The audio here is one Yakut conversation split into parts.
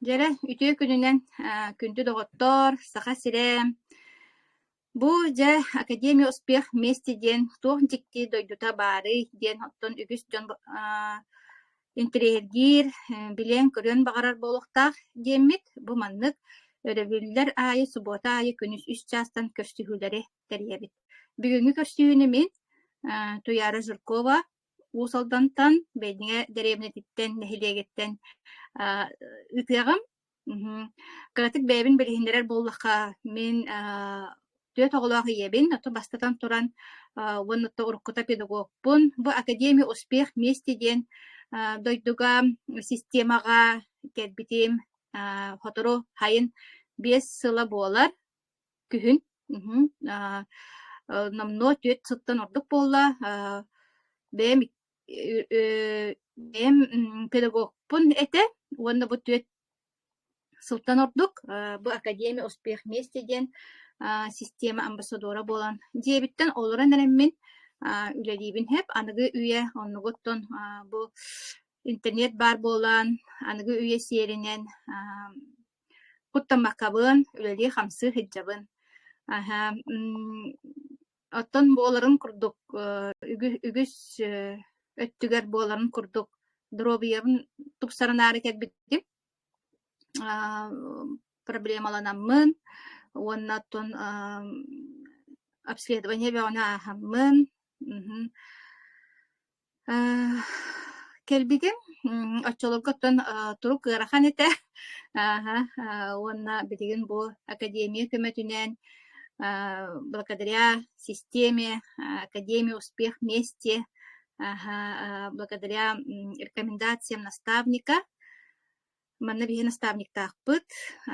Дьэрэ, үтүө күнүнэн күндү доҕоттоор, Саха сирэ! Бу, дьэ, Академия успех вместе диэн туох дьикти дойдута баарый диэн оттон үгүс дьон интэриэһиргиир, билиэн-көрүөн баҕарар буолуохтаах диэммит. Бу маннык өрөбүллэр аайы, субуота аайы күнүс үс чаастан көрсүһүүлэри тэрийэбит. Бүгүҥҥү көрсүһүүнү мин, Туйаара Жиркова, Уус Алдантан, бэйдиҥэ дэриэбинэтиттэн, нэһилиэгиттэн аа ытыаҕым. Мм кыратык бэйэбин билиһиннэрэр буоллахха, мин аа түөрт оҕолоох ийэбин, оттон бастатан туран, аа уонна то уруккута педагогпун. Бу Академия успех вместе диэн аа дойдуга системаҕа кэлбитим, аа сотору сайын биэс сыла буолар. Күһүн мгм, аа, э, номнуо түөрт сыттан ордук буолла. Аа, бэйэм ик- э, э, бэйэм м, педагогпун этэ уонна бу түөрт сылтан ордук э, бу Академия успех вместе диэн а, система амбассадора буолан дьиэбиттэн олорон эрэммин а, үлэлиибин хэп аныгы үйэ оннугуттан а, бу интернет баар буолан аныгы үйэ сиэринэн куттаммаккабын, үлэлии-хамсыы сылдьабын. Аһа, оттон буоларын курдук, үгүс өттүгэр буоларын курдук доруобуйабын тупсарынаары кэлбитим. проблемаланаммын уонна оттон обследование бөҕөнү ааһаммын Э, кэлбигин м, оччолорго оттон э, турук ыарахан этэ. Ааһа, э, уонна билигин бу академия көмөтүнэн э, благодаря системе э, Академия успех вместе ааһа, э, благодаря м, рекомендациям наставника Манна биһи наставниктаахпыт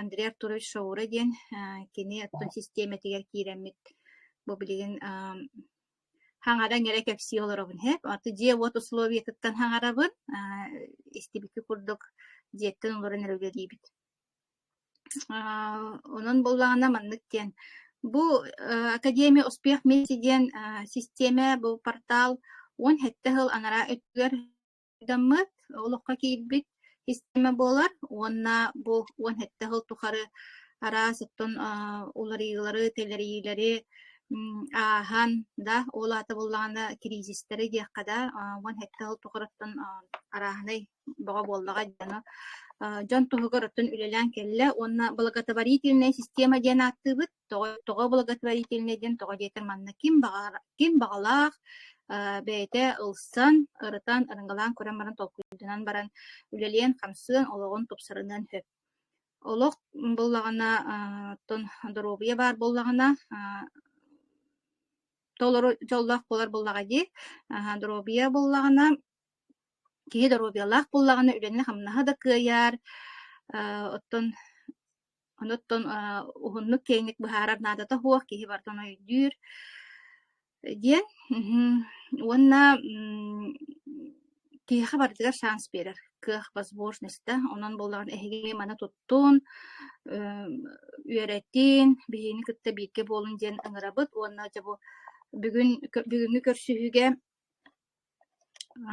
Андрей Артурович Шаура диэн э, кини оттон систиэмэтигэр киирэммит бу билигин хаҥаран эрэ кэпсии олоробун иһэ аты дьиэ уот условиетыттан хаҥарабын истибикки курдук дьиэттэн олорон эрэ үлэлиибит онон буоллаҕына маннык диэн бу академия успех вместе диэн систиэмэ бу портал уон сэттэ сыл анараа өттүгэр дьоммут олоххо киирбит система буолар уонна бу уон сэттэ сыл тухары араас оттон уларыйыылары, тэлэрийиилэри ааһан, да, ол аата буоллаҕына кризистэри диэххэ да уон сэттэ сыл тухарыттан арааһынай бөҕө буоллаҕа дьону дьон туһугар оттон үлэлээн кэллэ уонна благотворительная система диэн ааттыыбыт тоҕо тоҕо благотворительнай диэн тоҕо диэтэр манна ким баҕар ким баҕалаах бэйэтэ ылсан ырытан арыҥалаан көрөн баран толкуйдунан баран үлэлиэн хамсыан олоҕун тупсарыныан сөп олох буллаҕына оттон доруобуйа баар буллаҕына толору дьоллоох буолар буллаҕа дии доруобуйа буллаҕына киһи доруобуйалаах буллаҕына үлэни хамнаһа да кыайар оттон Оноттон уһуннук киэҥник быһаарар наадата суох, киһи барытын өйдүүр диэн. Уонна киһиэхэ барытыгар шанс биэрэр кыах возможността. Онон буоллаҕына эһиги маны туттун, үөрэтин, биһиги кытта бииргэ буолун диэн ыҥырабыт уонна дьэ бу бүгүн бүгүҥҥү көрсүһүүгэ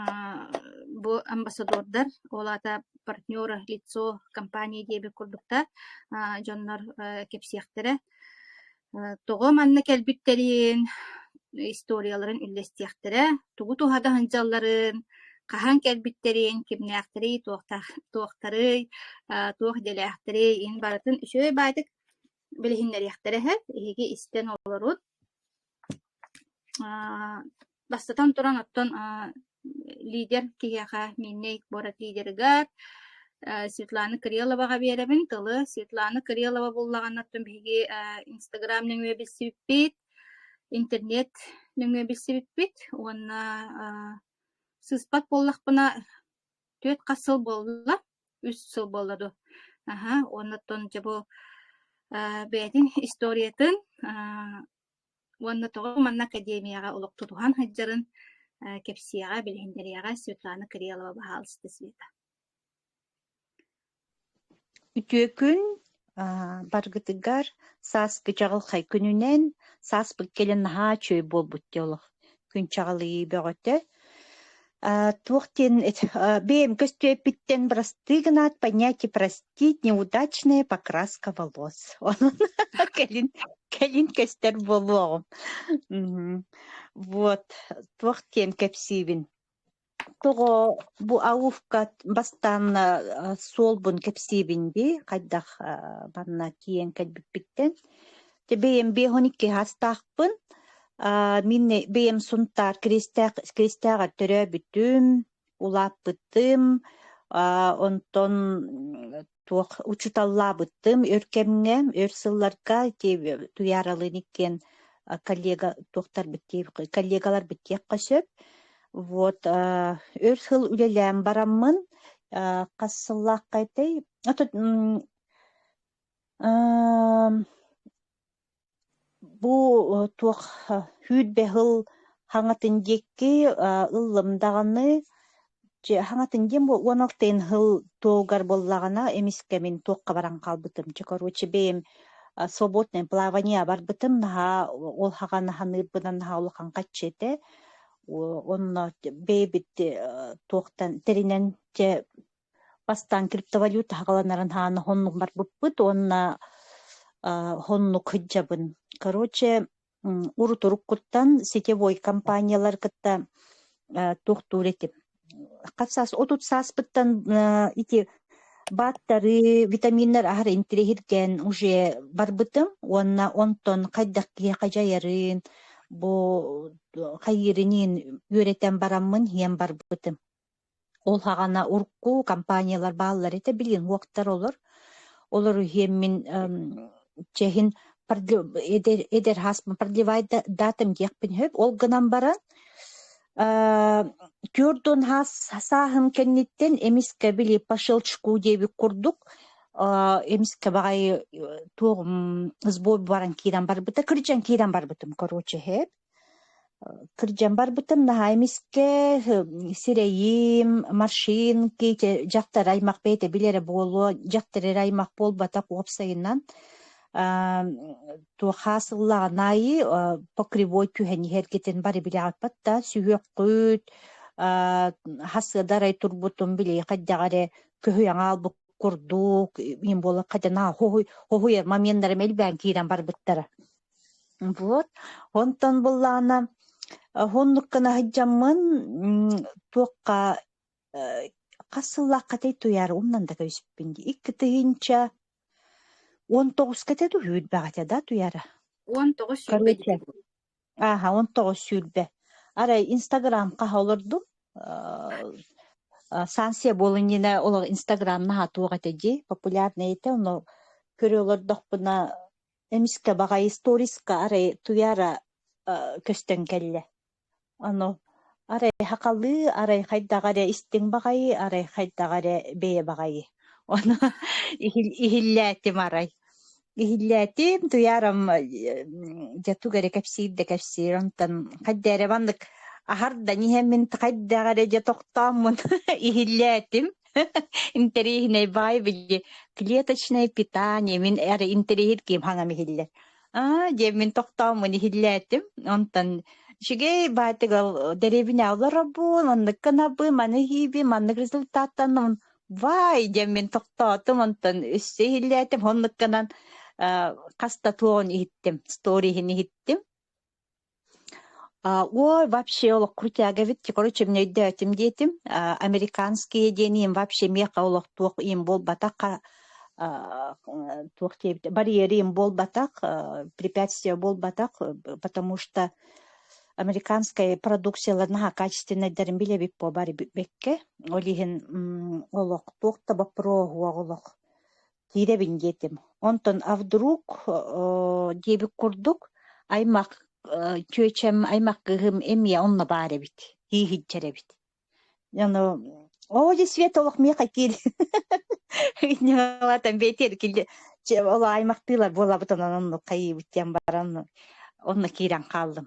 Аа бу амбассадордар, ол аата партнера лицо компания диэбит курдуктар, аа дьоннор э кэпсиэхтэрэ. Э тоҕо манна кэлбиттэрин, историяларын үллэстиэхтэрэ, тугу туһа да сылдьалларын, хаһан кэлбиттэрин, кимнээхтэрий, туохтаах туохтарый, аа туох идэлээхтэрий, ин барытын үчүгэй баайдык билиһиннэриэхтэрэ иһэр, эһиги истэн олорут Аа, бастатан туран, оттон аа лидер киһиэхэ Миннэй куорат лидерыгар э Светлана Кирилловаҕа биэрэбин. Тылы Светлана Кириллова буллаҕына, оттон биһиги э Инстаграм нөҥүө билсибиппит, интернет нөҥүө билсибиппит уонна аа сыыспат буоллахпына, түөрт хас сыл буолла? Үс сыл буолла дуо? Аһа, уонна оттон дьэ бу э бэйэтин историятын аа уонна тоҕо манна академияҕа олох тутуһан сылдьарын кэпсиэҕэ, билиһиннэриэҕэ Светлана Кириллова баһаалыста Света. Үтүөкүн баргытыгар сааспы чаҕылхай күнүнэн сааспыт кэлин наһаа чүй буолбут диэ олох күн чаҕылыйыы бөҕөтө А, туох диэн бэйэм көстүөппүттэн просты гынаат понятие простить неудачная покраска волос онон кэлин кэлин көстөр буолуоҕум мм вот туох диэн кэпсиибин тоҕо бу аувка бастаан суолбун кэпсиибин дии хайдах манна тиийэн кэлбиппиттэн Те бэйэм биэс он икки астаахпын. Аа, мин не- бэйэм Сунтаар Киристээх Киристээҕэр төрөөбүтүм, улааппытым, аа, онтон м, туох учуталлаабыттым өр кэмҥэ, өр сылларга те Туйааралыын иккиэн а, коллега туохтарбыт диир коллегаларбыт диэххэ сөп. Вот а, өр сыл үлэлээн бараммын, а, хас сыллаахха этэй? А тут м, Эм, бу э, туох э, үүт бэһил хаҥатын диэки э, ыллым даҕаны дьэ хаҥатын диэн бу уон алтын хыл туолгар буоллаҕына эмискэмин туохха баран хаалбытым. Дьэ короче бэйэм а, свободное плавание барбытым наһаа ол хаҕан ханыырбынан наһаа улахан хаччы этэ. О- Онно бэйэбит э, туохтан тэринэн дьэ Бастаан криптовалюта аһаҕаланарын аһаан оһоннук барбыппыт уонна аа оһоннук сылдьабын. Короче, м, урут-уруккуттан сетевой компаниялары кытта э, туохтуур этим. Хас саас, отут сааспыттан э, ити бааттары, витаминнар аһары интириэһиргэн уже барбытым уонна онтон хайдах киһи хадьайарын, бу хайыырыныын үөрэтэн бараммын иһэн барбытым. Ол һаҕана урукку компаниялар бааллар этэ, билигин уһуктар олор. Олору иһиэммин эм чэһин продля- эдэр эдэр һас продлевай да- датам диэхпин сөп. Ол гынан баран э түөртүн һас сааһым кэнниттэн эмискэ били по щелчку диэбит курдук э эмискэ баҕайы э туох м сбой баран киирэн барбыта, кырдьан киирэн барбытым, короче, сөп. Кырдьан барбытым наһаа эмискэ сирэйим, маршинки, дьахтар аймах бэйэтэ бил эрэ буолуо, дьахтар эрэ аймах буолбатах уопсайынан туохаа сыллааҕын аайы покривой түһэн иһэргитин бары билэҕиппат да сүһүөххүт, хас ыда арай турбутум билиэхэ дьаҕа эрэ көһүйэн хаалбыт курдук, ийэм буолан хадьа наһаа хоһуй хоһуйар моменнарым элбээн киирэн барбыттара Вот, онтон быллаана оннук гына сылдьаммын туохха э, хас сыллааххытай туйаар умнан да кэбиспиппин дии икки тыһыынча он тоҕуската дуу үүрбэҕитэ да туйаара Он тоҕус сүүрбэ короче ааха он тоҕус сүүрбэ арай инстаграмха олордум э, э, станция буолан инэ олох инстаграм наһаа туох этэ дии популярный этэ ону көрө олордохпуна Эмискэ баҕайы сторискка арай туйаара көстөн кэллэ. Ону арай сакалыы, арай хайдах эрэ истиҥ баҕайы, арай хайдах эрэ бэйэ баҕайы. Ону иһиллээтим арай. Иһиллээтим, туйаарам дьэ тугу эрэ кэпсиир да кэпсиир. Онтон хайда эрэ маннык аһардан иһэммин хайдах эрэ дьэ тохтооммун иһиллээтим. Интэриэһинэй баай били клеточное питание мин эрэ интэриэһир ким хангам иһиллэр. Аа диэммин тохтооммун иһиллээтим. Онтон үчүгэй баатыгал деревня олорорбун, оннукка набы, маны хийби, маннык результаттаннымын. Вай диэммин тохтоотум, онтон өссө иһиллээтим. Оннукканан хаста туон иһиттим, сториһин иһиттим. А, Ой, вообще олох крутяговит, те, короче, мне өйдөөтүм диэтим, а, американские диэни им вообще миэхэ олох туох им буолбатахха, а, э, туох диэбит, барьеры им буолбатах, а, препятствия буолбатах, э, потому что американская продукциялар наһаа качественнайдарын билэбит буолбар бэккэ, ол иһин м, олох туох да боппуруоһуох олох киирэбин диэтим. Онтон а вдруг диэбит курдук аймак чүөчэм, аймак кыыһым эмиэ онно баар эбит. Тииһиччэр эбит. Ону оо дии свет олох миэхэ киил Инневатан бэтер киле ол аймактыылар буолабыт онон онну хайыбыт диэн баран онно киирэн хааллым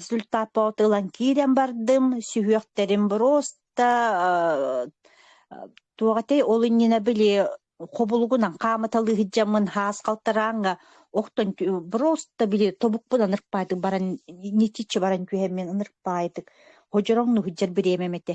Результаппыты ылан киирэн бардым, сүһүөхтэрим просто туох этэй ол иннинэ били хобулугунан хаамыталыы сылдьаммын хаас халтарааҥҥа охтон просто били тобукпун ынырпаатык баран нитиччи баран түһэммин ынырпаайтык, һодьороҥ ну сыдьар бириэмэм этэ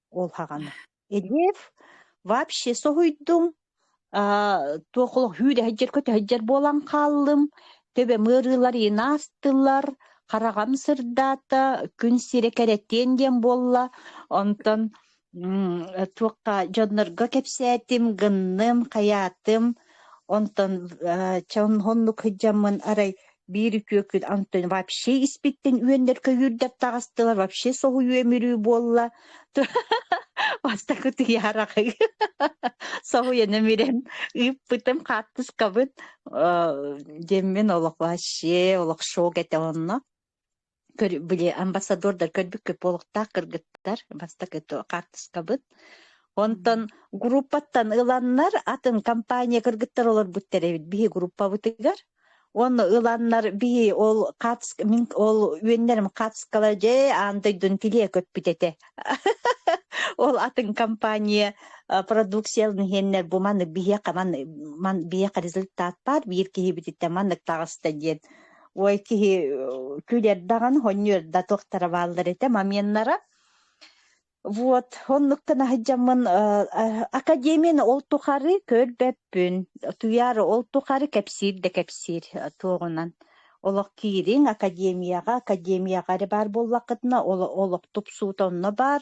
ол хаҕана Элев вообще соһуйдум туох олох үүрэһэддьэр көтөһөддьөр буолан хааллым төбөм ыарыылар инаастылар хараҕам сырдаата күн сирэ кэрэтиэн диэн буолла онтон туохха дьоннорго кэпсээтим гынным хайаатым онтон чэ оннук сылдьаммын арай биир үтүөкүн антон вообще испиттин үөннэр көйүүрдэр таҕыстылар вообще соһуйу өмүрүү буолла бастакы тыйааракы соһуйан өмүрэн ыыппытым хаартыскабын деммен олох вообще олох шок этэ онно көр били амбассадордар көрбүккэ полктаах кыргыттар бастакы хаартыскабыт онтон группаттан ыланнар атын компания кыргыттар олорбуттар эбит биһи группабытыгар онно ыланнар биһи ол хаартыска мин ол үөннэрим хаартыскалар дьэ аан дойдун тилиэ көппүт этэ ол атын компания продукциялын иһэннэр бу маннык биһиэхэ маннык результат баар биир киһибититтэн маннык таҕыста диэн ой киһи күлэрдаҕын хонньуорда туохтара бааллар этэ моменнара вот оннуктан аһыдьаммын академияны ол тухары көрбөппүн туйаары ол тухары кэпсиир да кэпсиир туоҕунан олох киириҥ академияҕа академияҕа эрэ баар буоллаххытына олох тупсуута онно баар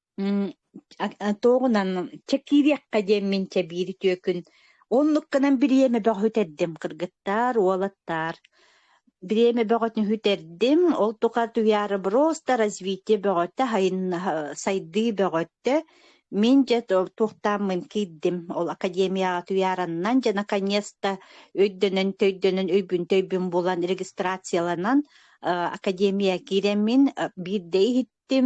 туоҕунан чэкиириэххэ диэммин чэбиир үтүөкүн оннук гынан бириэмэ бөҕө үтэрдим кыргыттаар уолаттаар бириэмэ бөҕөтүн үтэрдим ол тухары туяроброста развитие бөҕөтө сайдыы бөҕөттө мин дьэ туохтааммын киирдим ол академияҕа туяраннан дьэ наконец-то өйдөнөн төйдөнөн өйбүн төйбүн булан регистрацияланан академия киирэммин биирдэ иһиттим Тим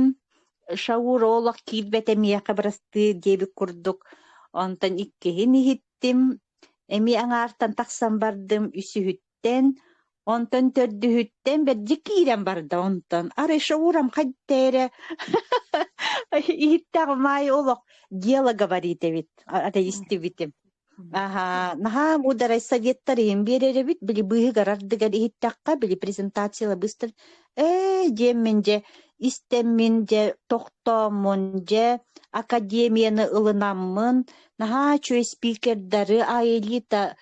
Шаур олох киирбэтэ миэхэ бырастыы диэбит курдук, онтон иккиһин иһиттим, эмиэ аҥаартан тахсан бардым үсүһүттэн, онтон төрдүһүттэн бэрдьэ киирэн барда онтон. Арай Шаурам хайда эрэ иһиттэҕим аайы олох дьиала говорит эбит, ата истибитим. Аһа, наһаа муударай советтар иһин биэрэрэбит, били быыһыгар-ардыгар иһиттэххэ, били презентация быстар, ээ, диэммин дьэ, истэммин дьэ, тохтооммун дьэ, академияны ылынаммын, наһаа үчүгэй спикердары, аэлита, э,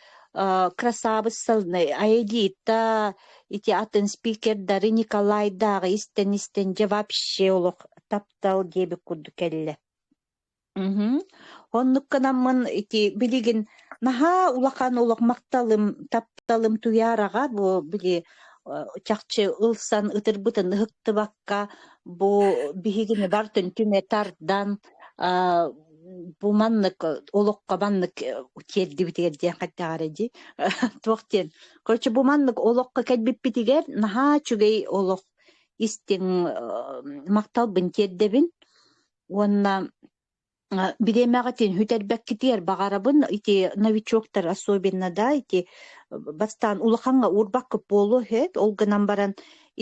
красавыссалны, аэлита, эти атын спикердары Николайдааҕы истэн-истэн дьэ вообще олох таптал диэбит курдук кэллэ. Мгм. Оннукканаммын ити билигин наһаа улахан олох махталым тапталым туйаараҕа бу били э, чахчы ылсан ытырбытын ыһыктыбакка бу биһигини бартын түмэ тардан а, бу маннык олоххо маннык э, тиэрдибитигэр диэн хайдаҕар дии туох диэн короче бу маннык олоххо кэлбиппитигэр наһаа үчүгэй олох истиҥ э, махталбын тиэрдэбин уонна бириэмэҕэ бүтэрбэккитигэр баҕарабын ити новичоктар особенно да ити бастаан улахаҥҥа уурбакка буолуо эт ол гынан баран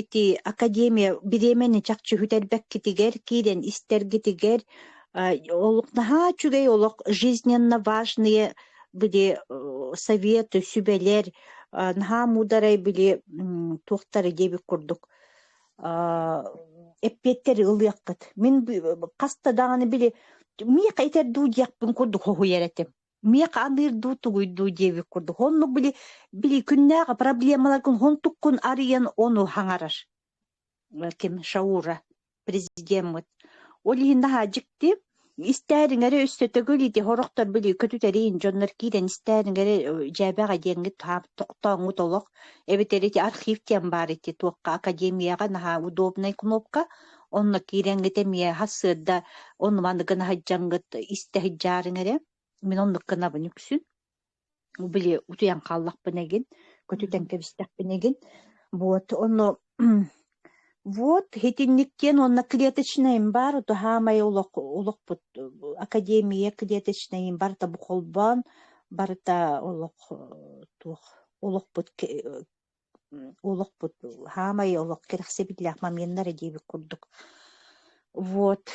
ити академия бириэмэни чахчы бүтэрбэккитигэр киирэн истэргитигэр олох наһаа үчүгэй олох жизненно важные били советы сүбэлэр наһаа муударай били туохтара диэбит курдук эппиэттэри ылыаххыт. Мин хаста даҕаны били миэхэ итэр дуу диэхпин курдук хоһуйар этим. Миэхэ аныыр дуу тугуй дуу диэбит курдук. Оннук били били күннээҕи проблемаларгын хонтуккун арыйан ону хаҥарар. Ким Шаура президеммыт. Ол иһин наһаа дьикти Истээн иҥэри өссө төгүл ити сорохтор били көтүтэриин дьоннор киирэн истээн иҥэри дьээбэҕэ диэҥҥит хаап тохтооҥҥут олох эбэтэр ити архив диэн баар ити туохха академияҕа наһаа удобнай кнопка онно киирэҥҥит эмиэ сырда онно маннык гына сылдьаҥҥыт истэ сылдьаар иҥэрэ мин оннук гынабын үксүн били утуйан хааллахпын игин, көтүтэн кэбистэхпин игин. Вот ону вот итинниктиэн уонна клеточнайым бар, ото хаамай олох олохпут академия клеточнайым барыта бу холбоон, барыта олох туох олохпут олохпут саамай олох кэрэхсэбиллээх моменнар диэбит курдук вот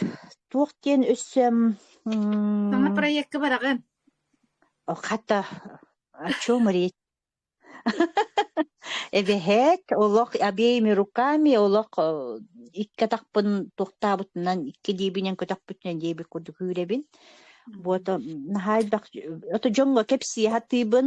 туох диэн өссө саҥа проекка бараҕын хата о чем речь эбэһээт олох обеими руками олох икки атахпын туохтаабытынан икки диэбинэн көтөхпүтүнэн диэбит курдук үүрэбин вот наһаа элбэх ото дьоҥҥо кэпсии сатыыбын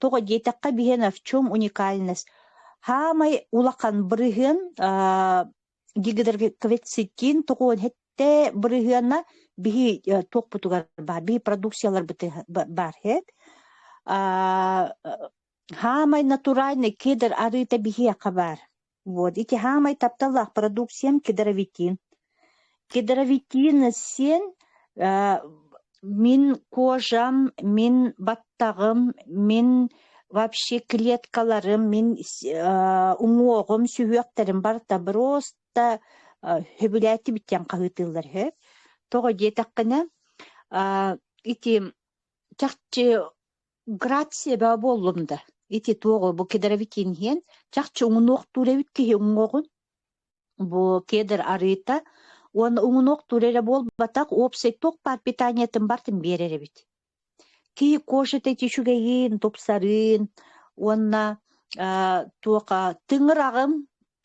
Тоҕо диэтэххэ, биһиэнэ в чем уникальность? Хаамай улахан бырыһыан аа, гидроквецитин тоҕуон хэттэ бырыһыана биһи э, туохпутугар баар, биһи продукцияларбытыгар баар хэт. Аа, хаамай натуральный кедр арыыта биһиэхэ баар. Вот, ити хаамай тапталлаах продукциям кедровитин. Кедровитин син э, мин кожам, мин баттагым, мин вообще клеткаларым, мин э, уҥуоҕум, сүһүөхтэрим барыта просто э, хөбүлээти бүттэн хаһыытыыллар үһү. Тоҕо диэтэххинэ, э, ити чахчы Грация буоллум да, ити туоҕу бу кедровитин иһэн, чахчы уҥунуохтуур эбит киһи уҥуоҕун. Бу кедр арыыта уонна уҥунуохтуур эрэ буолбатах, уопсай туох баар питаниятын бартын биэрэр эбит. Киһи кожа эти үчүгэйин, тупсарын уонна э, туоха тыҥыраҕым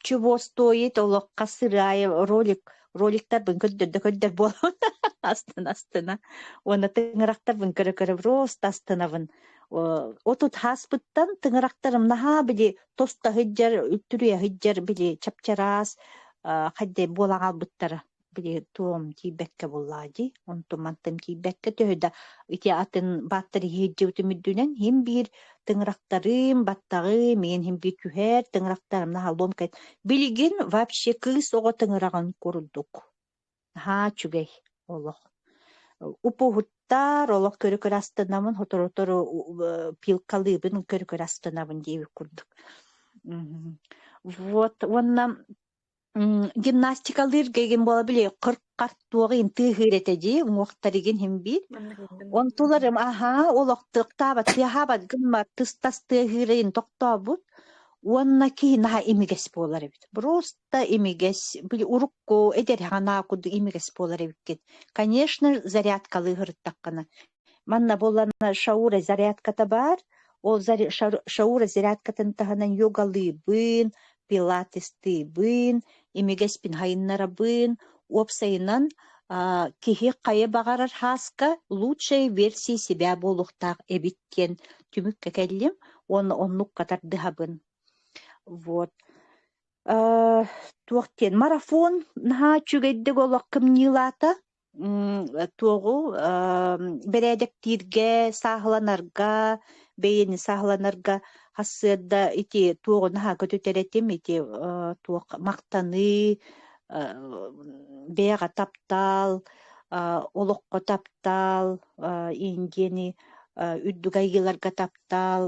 Чубуостуойит олохха сыраайы ролик роликтарбын көрдөрдө-көрдөр буолан астына-астына уонна тыҥырахтарбын көрө-көрө просто астынабын отут хааспыттан тыҥырахтарым наһаа били тоста сылдьар үттүрүйэ сылдьар били чапчараас хайдах буола хаалбыттара били туом тиийбэккэ буллаа дии онтум мантан киирбэккэ төһө да ити атын бааттар иһирдьибитим үрдүнэн иһим биир тыҥырахтарым баттаҕым миэн иһим биир күһэр тыҥырахтарым наһаа ломкайт билигин вообще кыыс оҕо тыҥыраҕын курдук наһаа үчүгэй олох упуһуттар олох көрө-көрө астынабын сотору-сотору пилкалыыбын көрө-көрө астынабын диэбит курдук вот уонна М, Гимнастикалыыр гигин бола биле қырқар туоғын тыыһыыр этэ дии уҥуохтаригин химбиир онтуларым аһаа олохтуохтаабат тыаһаабат гыммат тыстас тыаһыырайын тохтообут уонна киһи наһаа имигэс буолар эбит просто имигэс били урукку эдэрханаакуду имигэс буолар эбиккит конечно зарядкалыы сырыттаххына Манна буоллаҕына шаура зарядката баар, ол шаура зарядкатын таһынан йогалыыбын, пилатестыыбын, имигэспин хайыннарабын, уопсайынан киһи хайа баҕарар хааска лучшая версия себя буолуохтаах эбит диэн түмүккэ кэллим уонна оннукка тардыһабын. Вот. Туох диэн марафон наһаа үчүгэйдик олох кымньыылаата. туоҕу бэрээдэктииргэ сааһыланарга бэйэни сааһыланарга хасыарда ити туоҕу наһаа көтүтэр этим ити туох махтаныы бэйэҕэ таптаал олоххо таптаал индиэни үрдүк айгыларга таптаал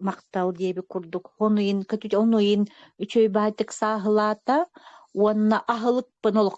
махтал диэбит курдук онуйын көтүтэ онуйын үчүгэй баайдык сааһылаата уонна аһылыкпын олох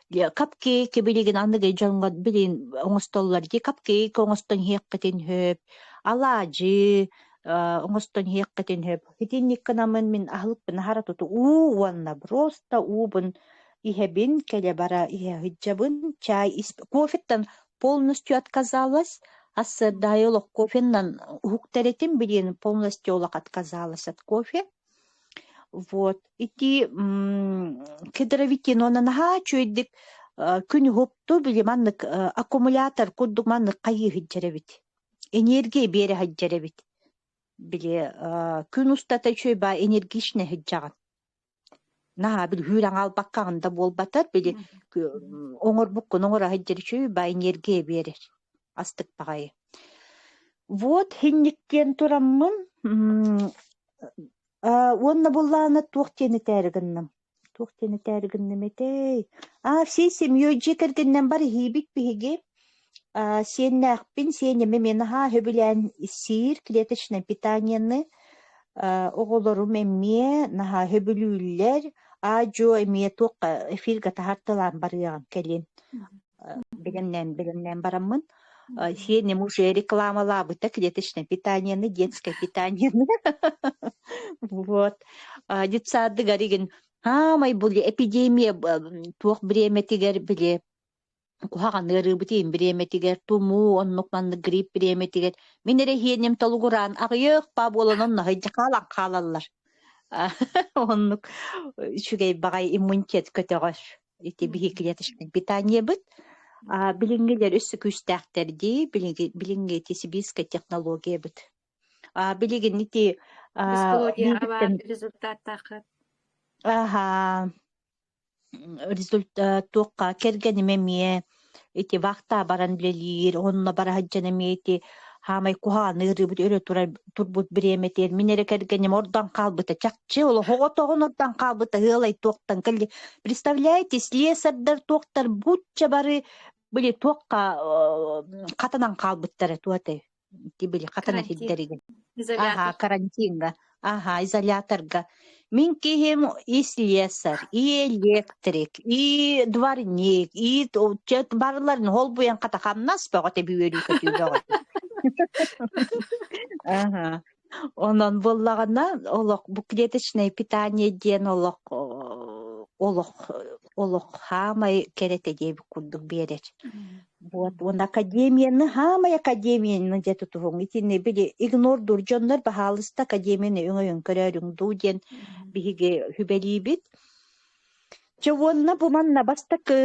капкейки билигин аныгы дьоҥҥо билин оҥостоллор ди капкейк оҥостон иһиэххитин сөп алаадьы оҥостон иһиэххитин сөп итинникке намын мин аһылыкпын аһара туту уу уонна просто уубун иһэбин кэлэ бара иһэһыдьабын чай кофеттан полностью отказалась ассырдаю олох кофеннан уһуктэритим билин полностью олох отказалась от кофе Вот. Ити кедровитинонан наһаа үчүгэйдик күн уһукту, били маннык аккумулятор курдук маннык хайыы сылдьар эбит. Энергия биэрэ сылдьар эбит. Били күн устата үчүгэй баа энергичнэй сылдьаҕын. наһаа бүлһүүр аҥаалбакка аҕында буолбатар били оҥорбуккун оҥоро сылдьар үчү баай энергия биэрэр астык баҕайы вот һинниккиэн тураммын уонна буоллаҕына туох диэн этээри гынным туох диэн этээри гынным этэй а всей семьей дьиэ кэргэнинэн бар иһиибит биһиги Э, Сиэннээхпин, сиэнньэми мин наһаа сөбүлээн сиир клеточнай питаниены. Э, оҕолорум эмиэ наһаа сөбүлүүллэр. Аа-дьуо эмиэ туохха эфиргэ таһартылаан барыаҕын кэлин. Э, Бэлэмнээн, бэлэмнээн бараммын. Э, Сиэнньэм уже рекламалаабыта клеточное питаниены, детское питаниены. Вот. А, Детсадыгар игин хаамай були эпидемия б- м, туох бириэмэтигэр били куһаҕан ыарыыбытын бириэмэтигэр тумуу оннук маннык грипп бириэмэтигэр мин эрэ иһиэним толугураан аҕыйах паа буолан оннаһыйдьа хаалан хаалаллар оннук үчүгэй баҕай иммунитет көтөҕөр ити биһиги клеточнай питаниебыт билиҥҥилэр өссө күүстээхтэр дии билиҥҥи билиҥҥи ити сибирская технологиябыт билигин ити результаттааххыт аха результат туохха кэргэним эмиэ ити вахта баран үлэлиир онно бара сылдьан эмиэ ити хаамай куһаҕаныырыбыт өрө турар турбут бириэмэтигэр мин эрэ кэргэним ордон хаалбыта чахчы олох оҕотоҕун ордон хаалбыта ыалай туохтан кэлли представляете слесардар туохтар бучча бары били туохха хатанан хаалбыттара туо этэй били хатан этиддэригин аха карантинга аха изоляторга мин киһим и слесарь и электрик и дворник и барларын холбуйан хата хамнас бөҕө тэби үөрүү көтүүлөҕө аха Онон буоллаҕына олох бу клеточное питание диэн олох олох олох хаамай кэрэтэ диэбит курдук биэрэр. Вот он академияны хаамай академияны дьэ тутуһуҥ итини били игнордуур дьоннор баһаалыста академияны өҥөйөн көрөөрүҥ дуу диэн биһиги хүбэлиибит Дьэ уонна бу манна бастакы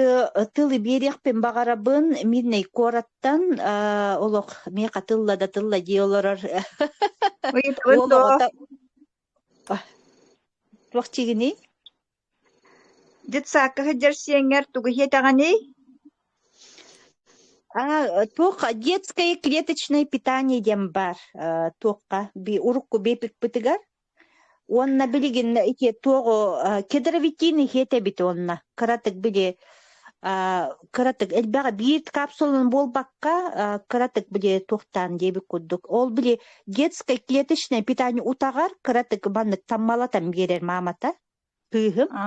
тылы биэриэхпин баҕарабын Мирнэй куораттан. Э, олох миэхэ тылла да тылла дии олорор Ыйытабын уол дуо? оҕото туох чигиний? Детсадка сылдьар сиэҥҥэр тугу иһиэтэҕиний? А, туох детское клеточное питание диэн баар. Э, туохха би урукку бэпикпитигэр Уонна билигин ити туох кедровитин иһиэт эбит уонна кыратык били кыратык элбэҕи биир капсуланы буолбакка кыратык били туохтаан диэбит курдук ол били детское клеточное питание утаҕар кыратык маннык таммалатан биэрэр маамата Кыыһым А,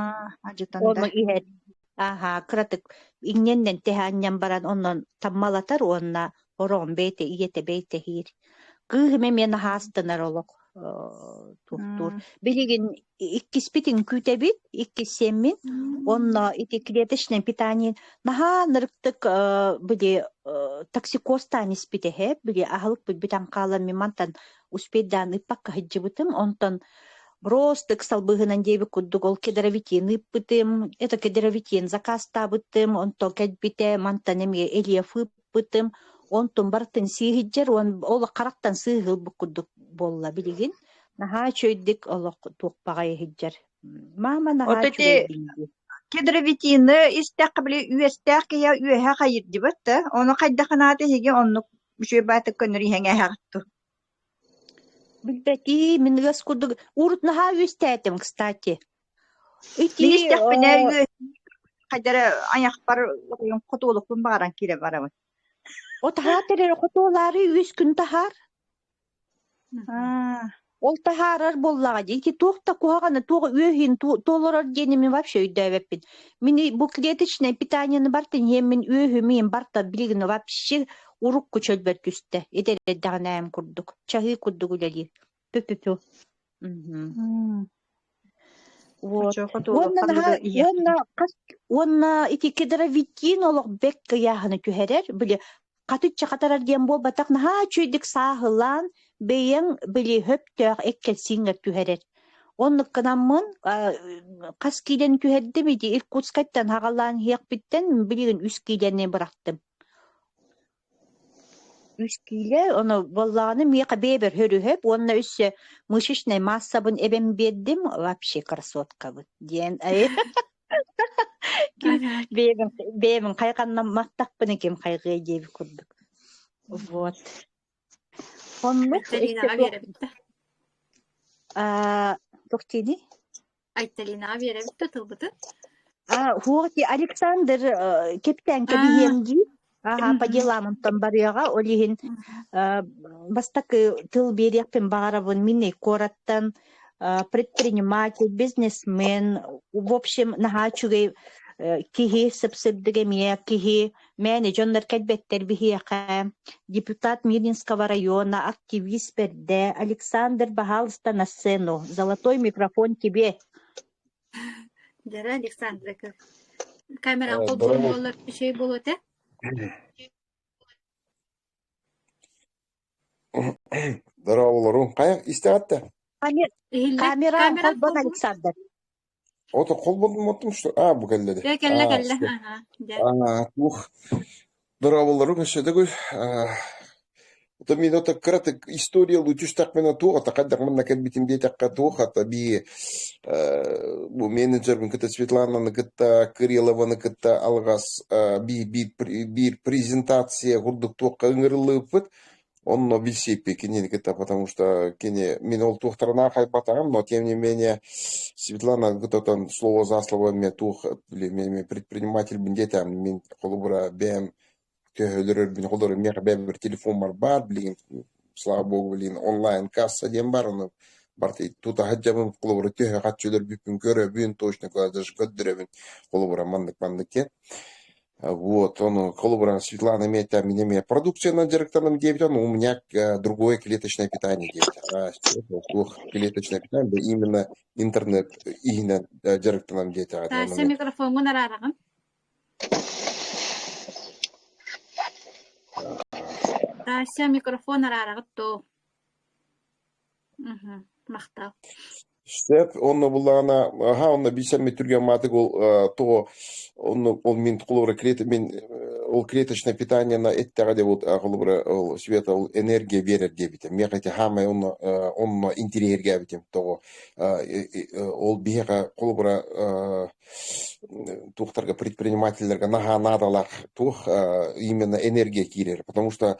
адьытан да. ону иһэр. Аһа, кыратык иҥнэннэн тэһэ анньан баран онон таммалатар уонна ороон бэйте ийэтэ бэйтэһиир. Кыыһым эмиэ наһаастанар олох э, туохтуур. М, Билигин иккиспит үҥкүүтэбит, иккиссэммин, онно ити клеточное питание наһаа нырыктык э, били э, токсикоз таан испит эһэ, били аһылык битан хаалан мимантан успейдаан ыппакка сылдьыбытым онтон броостык салбыһынан диэбит курдук ол кедровитин ыппытым это кедровитин закаастаабытым онтон кэлбитэ мантан эмиэ элиев ыппытым онтун барытын сииһирдьэр уон ол харахтан сыыһылбыт курдук буолла билигин наһаа үчүгэйдик олох туох баҕайы иһирдьэр мама наһаа үчүгэй кедровитины истэххэ били үөстээх киһи үөһэ хайырдыбат да ону хайдах анаата иһиги оннук Үчүгэй баатык көннөрү иһэҥээһэх ту. Билбэтии, мин ыас курдук урут наһаа үстээтим, кстати. Ити Мин истэхпинэ э, хайдары айахпар хотуолукпун баҕаран киирэ барабын. О таһаа тэрэр хотуолаары үс күн таһаар. Ол таһаарар буоллаҕа дии, ити туох да куһаҕаны, туох үөһүн толорор диэни мин вообще өйдөөбөппүн. Мин бу клеточное питанияны бартын иһиэн мин үөһүм иһин барта билигин вообще урукку чөлбөр түстэ. Ити эрдэҕинэ эм курдук. Чаһыы курдук үлэлиир. Тю-тю-тю. Мгм. Вот. Очуоха туолуох Уонна наһаа ханныгы уонна иһиэххин хас уонна итики дровитин олох бэк кыйааһыны түһэрэр, били хатычча хатарар диэн буолбатах, наһаа үчүгэйдик сааһылаан бэйэҥ били хөптөөх эккэлсииҥҥэр түһэрэр. Оннуккунаммын а, хас киилэни түһэрдим ити Иркутскайтан хаҕалаан иһиэхпиттэн билигин үс киилэни бырахтым. Үс киилэ, ону буоллаҕына миэхэ бэйэбэр өрүһэп уонна өссө мышечнай маассабын эбэм биэрдим, вообще красоткабыт диэн ким бэйэбин бэйэбин хайҕанна маттахпына ким хайҕыай диэбит курдук. Вот. Хоннук эттэ туох аа туох диэний? Айталинаҕа биэрэбит да тылбытын. А, хуоти Александр э, кэптээн кэбиһиэм дии. Аха по делам онтон барыаҕа, ол иһин э, бастакы тыл биэриэхпин баҕарабын миннэй куораттан э, предприниматель, бизнесмен, в общем, наһаа үчүгэй э, киһи, сыпсырдык эмиэ киһи, Мээнэ дьоннор кэлбэттэр биһиэхэ. Депутат Мирнинского района, активист бэрдэ Александр, пожалуйста, на сцену. Золотой микрофон тебе. Дара Александрка. Камерам холбон болар şey болот э? Здорово, Лору. Каяк истәвәттә? Камера холбон Александр. От холбоммуттум что а бу кэллэри Тыа кэллэ а кэллэ что аһаа дьэ а ух дорооболору көрсөдөгү ото мин ото кыратык история лучустахмена туох ото хайдах манна кэлбитим диэтэххэ туох ото би э, бу менеджербин кытта Светлананы кытта Кириллованы кытта алгас э, би биир пр- биир презентация курдук туохха ыҥырыллыбыт Онно билсиэппиэ кинини кытта, потому что кини мин ол туохтарынан харбатаҕым, но тем не менее Светлана Гытотон слово за слово эмиэ туох эмиэ предпринимателбин диэтээм мин холобура бэйэм төһө өлөрөрбүн холобура миэхэ бэйэбэр телефоммар баар билигин слава богу билигин онлайн касса диэн баар ону барты тута сылдьабын холобура төһө харчы өлөрбүппүн көрөбүн точно куда даже көрдөрөбүн холобура маннык маннык диэн Вот, он коллаборант Светлана имеет там меня, меня продукция директором диэбитэ, но у меня э, другое клеточное питание диэбитэ. А что толку клеточное питание, именно интернет иһинэн э, директором диэтэҕэ Таасса даҕаны. микрофоҥҥун араараҕын. Таасса микрофон араараҕыт доо. Мгм. Махтал. Сөп. Онно буллаҕына, аха, онно биисэммит түргэн маатык ол э, того, онно ол мин холобура клет мин э, ол клеточное питание на эттэҕэ де вот э, холобура ол света ол энергия биэрэр диэбитэ. Миэхэ ити хаамай онно э, онно интириэһиргээбитим того. Э, э, э, ол биһиэхэ холобура э, туохтарга предпринимательлэргэ наһаа наадалаах туох э, именно энергия киирэр, потому что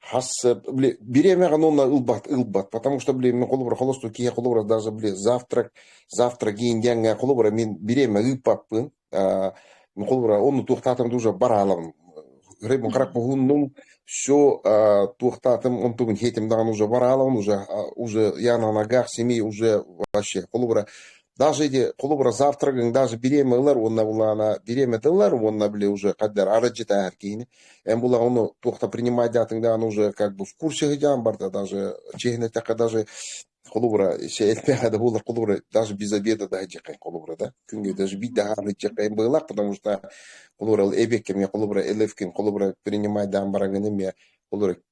хас э, били бириэмэҕэ нуно ылбат ылбат потому что били мен холобура холосту киһи холобура даже били завтрак завтра кийин диэҥҥэ холобура мен бириэмэ ыыппаппын а, мен холобура онну туохтаатым уже бараалам рыбын карак муһуннум все туохтаатым он тугун хетим даҕаны уже бараалам уже уже я на ногах семьи уже вообще холобура даже эти холобура завтрагын даже бириэмэ ылар уонна булаана бириэмэтэ ылар уонна били уже когда арыдьытаахар киһини эн була ону туохта принимать диятыҥ дааны уже как бы в курсе ыһыдьаан барда даже чиһинэтэххэ даже холобура эттэхэ да булар холобура даже без обеда да дьэкэн холобура да күнгө даже бит да дьэкэн быылах потому что холобура эбекке мне холобура элевкин холобура принимать даан бараганы мне холобура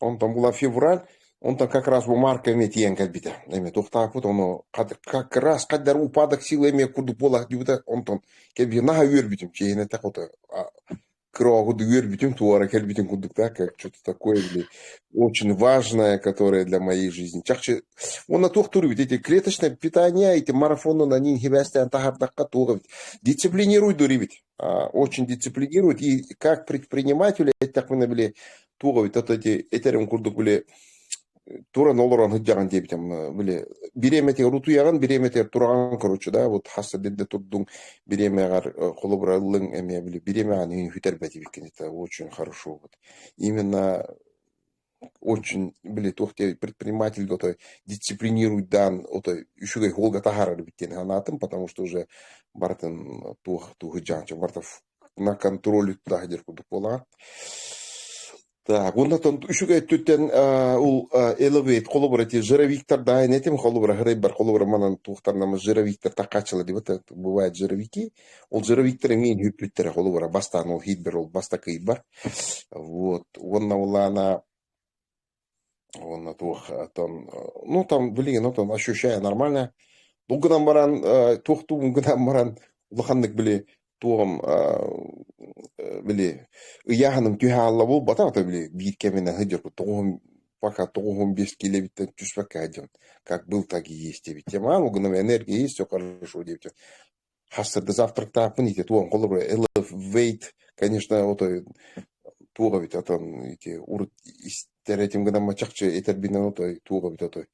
Онтон була февраль, онтон как раз бу марка эмиэ тиийэн кэлбитэ. Эмиэ тохтооппут, ону хат- как раз хайдар упадок сила эмиэ курдук буолар диэбитэ. Онтон кэлби наһаа үөрбүтүм. Чиэһинэтэх ото а, кырооһуду үөрбүтүм, туора кэлбитин курдук да, как что-то такое или очень важное, которое для моей жизни. Чахчы уонна туох туруйбут эти клеточное питание, эти марафоннун анин хибээстээн таһардахха туох эбит. Дисциплинируй дурибит. очень дисциплинирует. И как предприниматели эттэхпинэ били туох эбит ото ити этэрин курдук били туран олорон сыдьаҕын диэбитим били бириэмэтигэр утуйаҕын бириэмэтигэр тураҕан короче да вот хас дедде турдуң бириэмэҕэр холобура ыллыҥ эмиэ били бириэмэҕэ үтэрбэтибиккин это очень хорошо вот именно очень, били, туох диэн предприниматель отой дисциплинируйдаан отой үчүгэй уолга таһаарар эбит диэн санаатым, потому что уже барытын туох тууһуйдьаанча барытов на контроль туда дир курдук буолаат. Так, уоннатан үчүгэй өттүттэн ол элевейт холобура ти жировиктар да этим холобура хырайбар холобура манан туохтарнамы жировиктер таккачыла диба бывает жировики Ол Зero Виктор эмиэ иһиппиттэрэ холобура бастаан ол хитбэр ол баста кыйбар вот уонна улаана уонна туох оттон ну там билигин оттон ощущая нормально бұл гынан баран туох тугун гынан баран улаханнык били туом били ыйааһыным түһэ аалла буолбата ата били биир кэминэ сылдьарбыт тоҕуһум пока тоҕуһум бес килэбиттэн түспэккэ сылдьабын как был так и есть диэбиттиэн ол гынан энергия есть все хорошо диэбиттиэн Хастарга завтрактаахпын ити туон холобура элфвейт, конечно, отой туох эбит оттон ити урут истэр этим гынамма чахчы этэрбинэн отой туох эбит отой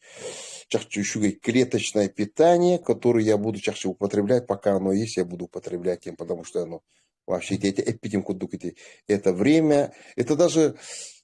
чахчы үчүгэй клеточное питание, которое я буду чахчы употреблять, пока оно есть, я буду употреблять им, потому что оно вообще это, это, эпитим кудук ити это время. Это даже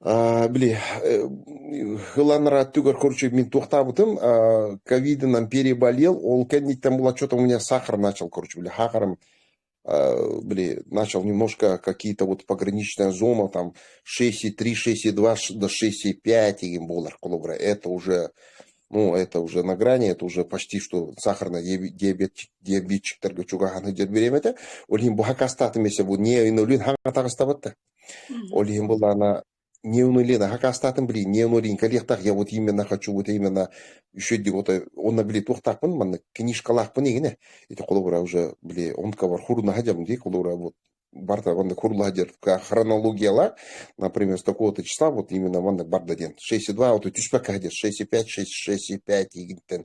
А, били э, ыланара түгэр, короче, мин туохтаабытым, а, ковидынан переболел, ол кэнниттэн был отчетом у меня сахар начал, короче, били сахаром э, били, начал немножко какие-то вот пограничная зона, там шесть три шесть два до шесть пять им болар, колобра, это уже, ну, это уже на грани, это уже почти что сахарный диабет, диабетчиктарга чугаханы дер беремете, олин бухакастатымесе бу не ойнолин хаңатагыстабатта. Ол иһин былаана не уныли накакаастаатын били не уныленька лиэхтах я вот именно хочу вот именно еще вот онно били туохтаахпын маннык книжкалаахпын игине ити холобура уже били онкобар хурунаха дьабын ди холобура вот барда манна курулаха дер хронологиялар например с такого-то числа вот именно маннык барда диэн шестьдесят два вот үтүспэкэһэ дер шестьдесят пять шестьдесят пять игинтен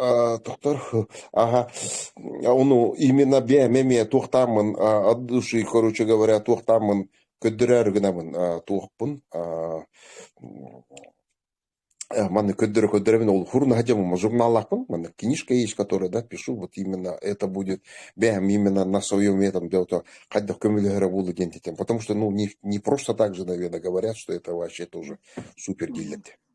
Э, Тохтор, ага, ну, именно бэйэм эмиэ туохтааммын э, от души, короче говоря, туохтааммын көрдөрөөрү гынабын, э, туохпун, э, э, манны көрдөрө-көрдөрөбүн ол хурнаһа дьоммун журналлаахпын, манна книжка есть, которая, да, пишу, вот именно это будет бэйэм именно на своем этом дело хайдах көмөлөһөрө буолу диэн этим, потому что, ну, не, не просто так же, наверное, говорят, что это вообще тоже супер гильдия.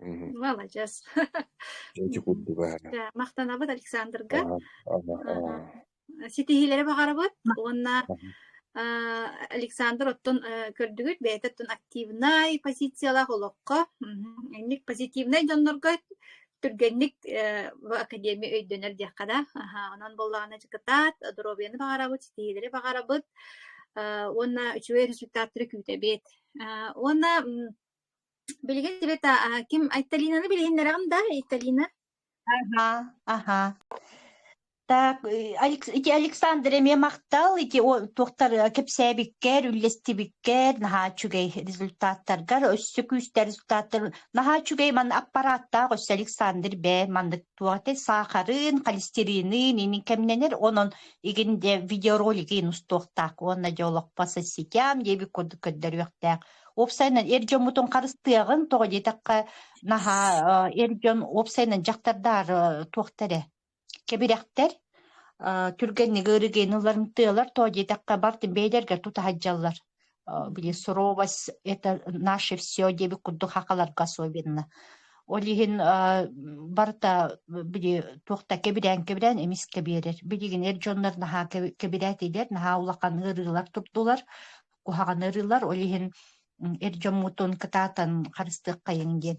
Маладьыас. Эти курдук баара. Махтанабыт Александрга. Ситиһиилэри баҕарабыт уонна Александр оттон көрдүгүт бэйэтэ оттон активнай позициялаах олоххо инник позитивнай дьоннорго түргэнник академия өйдөнөр диэххэ да онон боллаҕына дьыкытаат доруобуйаны баҕарабыт ситиһиилэри баҕарабыт уонна үчүгэй результаттары күүтэбит уонна Билигин эбэтэ а, ким Айталинаны билиһиннэрэҕин да, Айталина? Ага, ага. Так, э, Алекс- ити Александр эмиэ махтал ити о- туохтар э, кэпсээбиккэр, үллэстибиккэр, наһаа үчүгэй результаттаргар, өссө күүстэр результаттар. Наһаа үчүгэй ман аппарааттаах өссө Александр бээ маннык туохата саахарын, холестеринын инин кэмнэнэр, онон игин де видеоролигин устуохтаах уонна дьолохпо соситям диэби курдук көрдөрүөхтээх. уопсайынан эр дьоммутун харыстыаҕын тоҕо диэтэххэ наһаа эр дьон уопсайынан дьахтардар туохта эрэ кэбирэхтэр түргэнник ыарыгыны ылымтыалар тоҕо диэтэххэ бартын бэйэлэргэр тутаһалдьаллар били суровость это наше все диэбит курдук хахаларга особенно ол иһин барыта били туохта кэбирээн кэбирээн эмис кэбиэрэр билигин эр дьоннор наһаа кэбирээтилэр наһаа улахан ыарыылар турдулар куһаҕаны ырыылар, ол иһин эр дьоммутун кытаатан харыстыаххайыҥ диэн.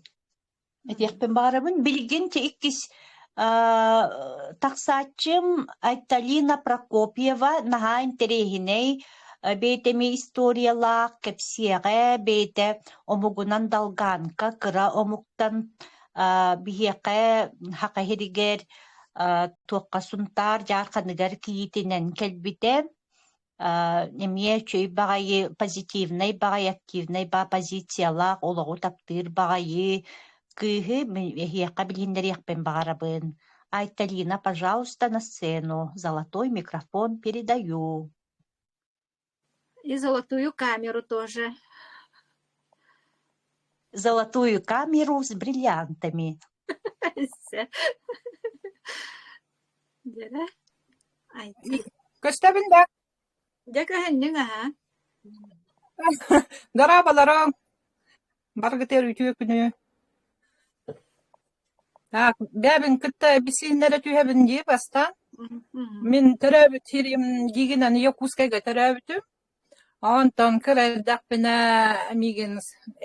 Этиэхпин баҕарабын. Билигин те иккис тахсааччым Айталина Прокопьева наһаа интэриэһинэй бэйэтэмий историялаах, кэпсиэҕэ, бэйэтэ омугунан далгаанка, кыра омуктан биһиэхэ хахаһиригэр туохха сунтаар дьаарханыгар кийиитинэн кэлбитэ. эмиэ үчүгэй баҕайы позитивнай баҕайы активнай ба позициялаах олоҕу таптыыр баҕайы кыыһы эһиэхэ билиһиннэриэхпин баҕарабын. Айталина, пожалуйста, на сцену. Золотой микрофон передаю. И золотую камеру тоже. Золотую камеру с бриллиантами. Дьэрэ, айти, Көстөбүн да дьэ көһүннүҥ аһаа. Дораабаларым, баргытыгар үтүө күнү. Так, бэйэбин кытта эписииннэрэ түһэбин дии бастаан. Мин төрөөбүт сирим Гигинаны Якутскайга төрөөбүтүм. Онтон кыра эрдэхпинэ миигин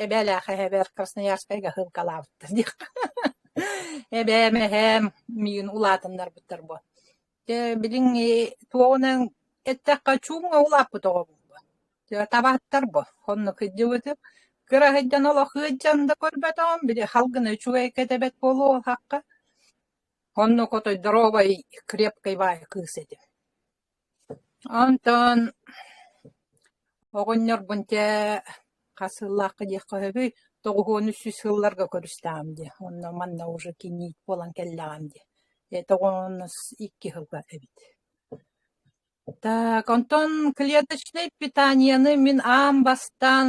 эбээлээх эһэбэр Красноярскайга сыылкалаабыттар диэххэ эбээм, эһээм миигин улаатыннарбыттар буо. Дьэ билиҥ туоҕунан эттэххэ чуумҥа улааппыт оҕобун буо. Табааттар буо оннук сылдьыбытым. Кыра сылдьан олох сылдьан да көрбөтөҕүм били халгына үчүгэй кэтэбэт буолуохахха. Оннук отой доруобай крепкай баай кыыс этим. Онтон оҕонньорбун чэ хас сыллаахха диэххэ сөбүй тоҕуһуон үс сүүс сылларга көрүстэҕим дии онно манна уже кийиит буолан кэллэҕим дии это оҕонньорбунус икки сылга эбит так онтон клеточнай питанияны мин аан бастаан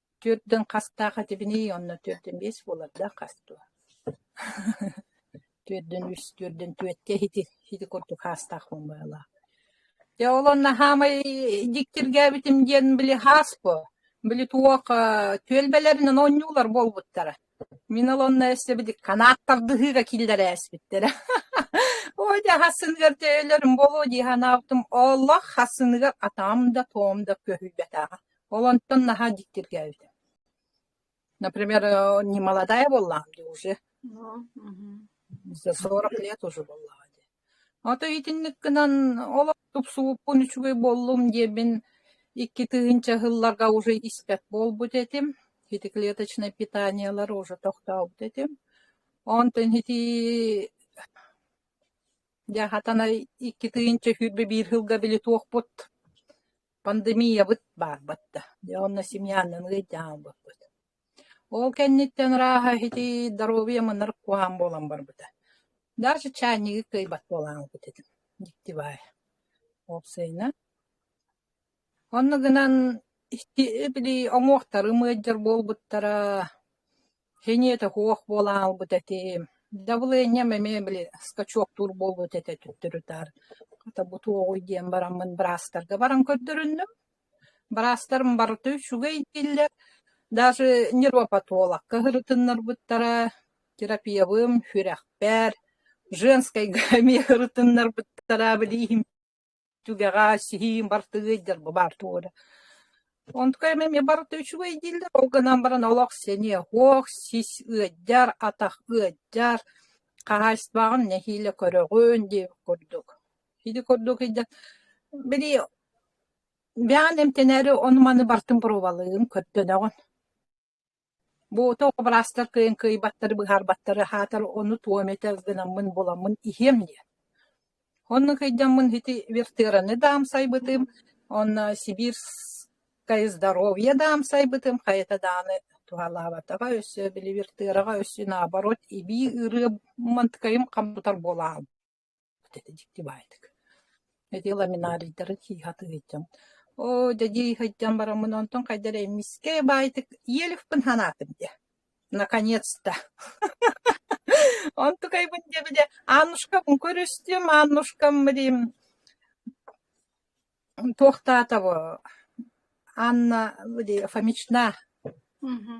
Түөртүн хастаах этибиний, онно түөртүн биэс буолар да хас дуо? Түөртүн үс, түөртүн түөртэ ити ити курдук хаастаах мумбаалаах. Дьэ ол онно хаамай дьиктиргээбитим диэн били хаас буо. Били туох э, түөлбэлэринэн оонньуулар буолбуттара. Мин ол онно өстөбүт канаат тардыһыыга киллэрээспиттэрэ. Ой, дьэ хассыныгар төйөлөрүм буолуо дии санаабытым, олох хассыныгар атаам да туом да көһүйбэтэҕэ. Ол онтон наһаа дьиктиргээбитэ. Например, э, не молодая буоллаҕым дии уже. За сорок лет уже буоллаҕа дии. Ото итинник гынан ол тупсубуппун үчүгэй буоллум диэбин икки тыһыынча сылларга уже испэт буолбут этим. Ити клеточное питаниелар уже тохтообут этим. Онтон ити дьэ хатана икки тыһыынча сүүрбэ биир сылга били туохпут пандемиябыт баарбыт да. Дьэ онно семьянан ыалдьан хаалбыппыт. Ол кэнниттэн ырааһа итии доруобуйа мынар куһаҕан буолан барбыта. Дальше чайнигы кыайбат буолаҕыҥ этим дьикти баайа. Ол сыыйынан онно гынан били уҥуохтарым ыалдьар буолбуттара, хиниэтэ суох буолан хаалбыт этим. Давлением эмиэ били скачоктуур буолбут этэ төттөрү таары. Хата бу туоҕуй диэн бараммын быраастарга баран көрдөрүннүм. Быраастарым барыта үчүгэй дииллэр, даже нейропатолог кыһырытыннарбыттара, терапевым сүрэхпэр, женскайга эмиэ ырытыннарбыттара, билиһим түгэҕэ сиһиим бартыгыйдар бу баар туо да. Онтукам эмиэ барыта үчүгэй дииллэр, ол гынан баран олох синиэ-оһох, сис ыалдьар, атах ыалдьар, хаһаайыстыбаҕын нэһиилэ көрөҕүн диир курдук. Ити курдук ыйда били бэҕэн эмтэнээри ону-маны бартын пробалыын көрдөнөҕүн. Бу тоҕо быраастар кыайан кыайбаттары быһаарбаттары аһаатар ону туом этэ гынаммын буламмын иһиэм диэн. Онно кыйдаммын ити вертыраны даамсайбытым, онно сибирское здоровье даамсайбытым, хайата дааны туһалаабатаҕа өссө били вертыраҕа өссө наоборот эбии ырыамманткайым хам тутар буолаам дьикти баайдык эти ламинарийдарын сыыһатыы сылдьан оо дьэ дии сылдьан бараммын онтон хайдах эрэ мискэй баайдык иэлифпин санаатым диэ наконец-то онтукайбын диэбитэ аннушкабын көрүстүм аннушкам блин Туохтаата бу Анна Фомична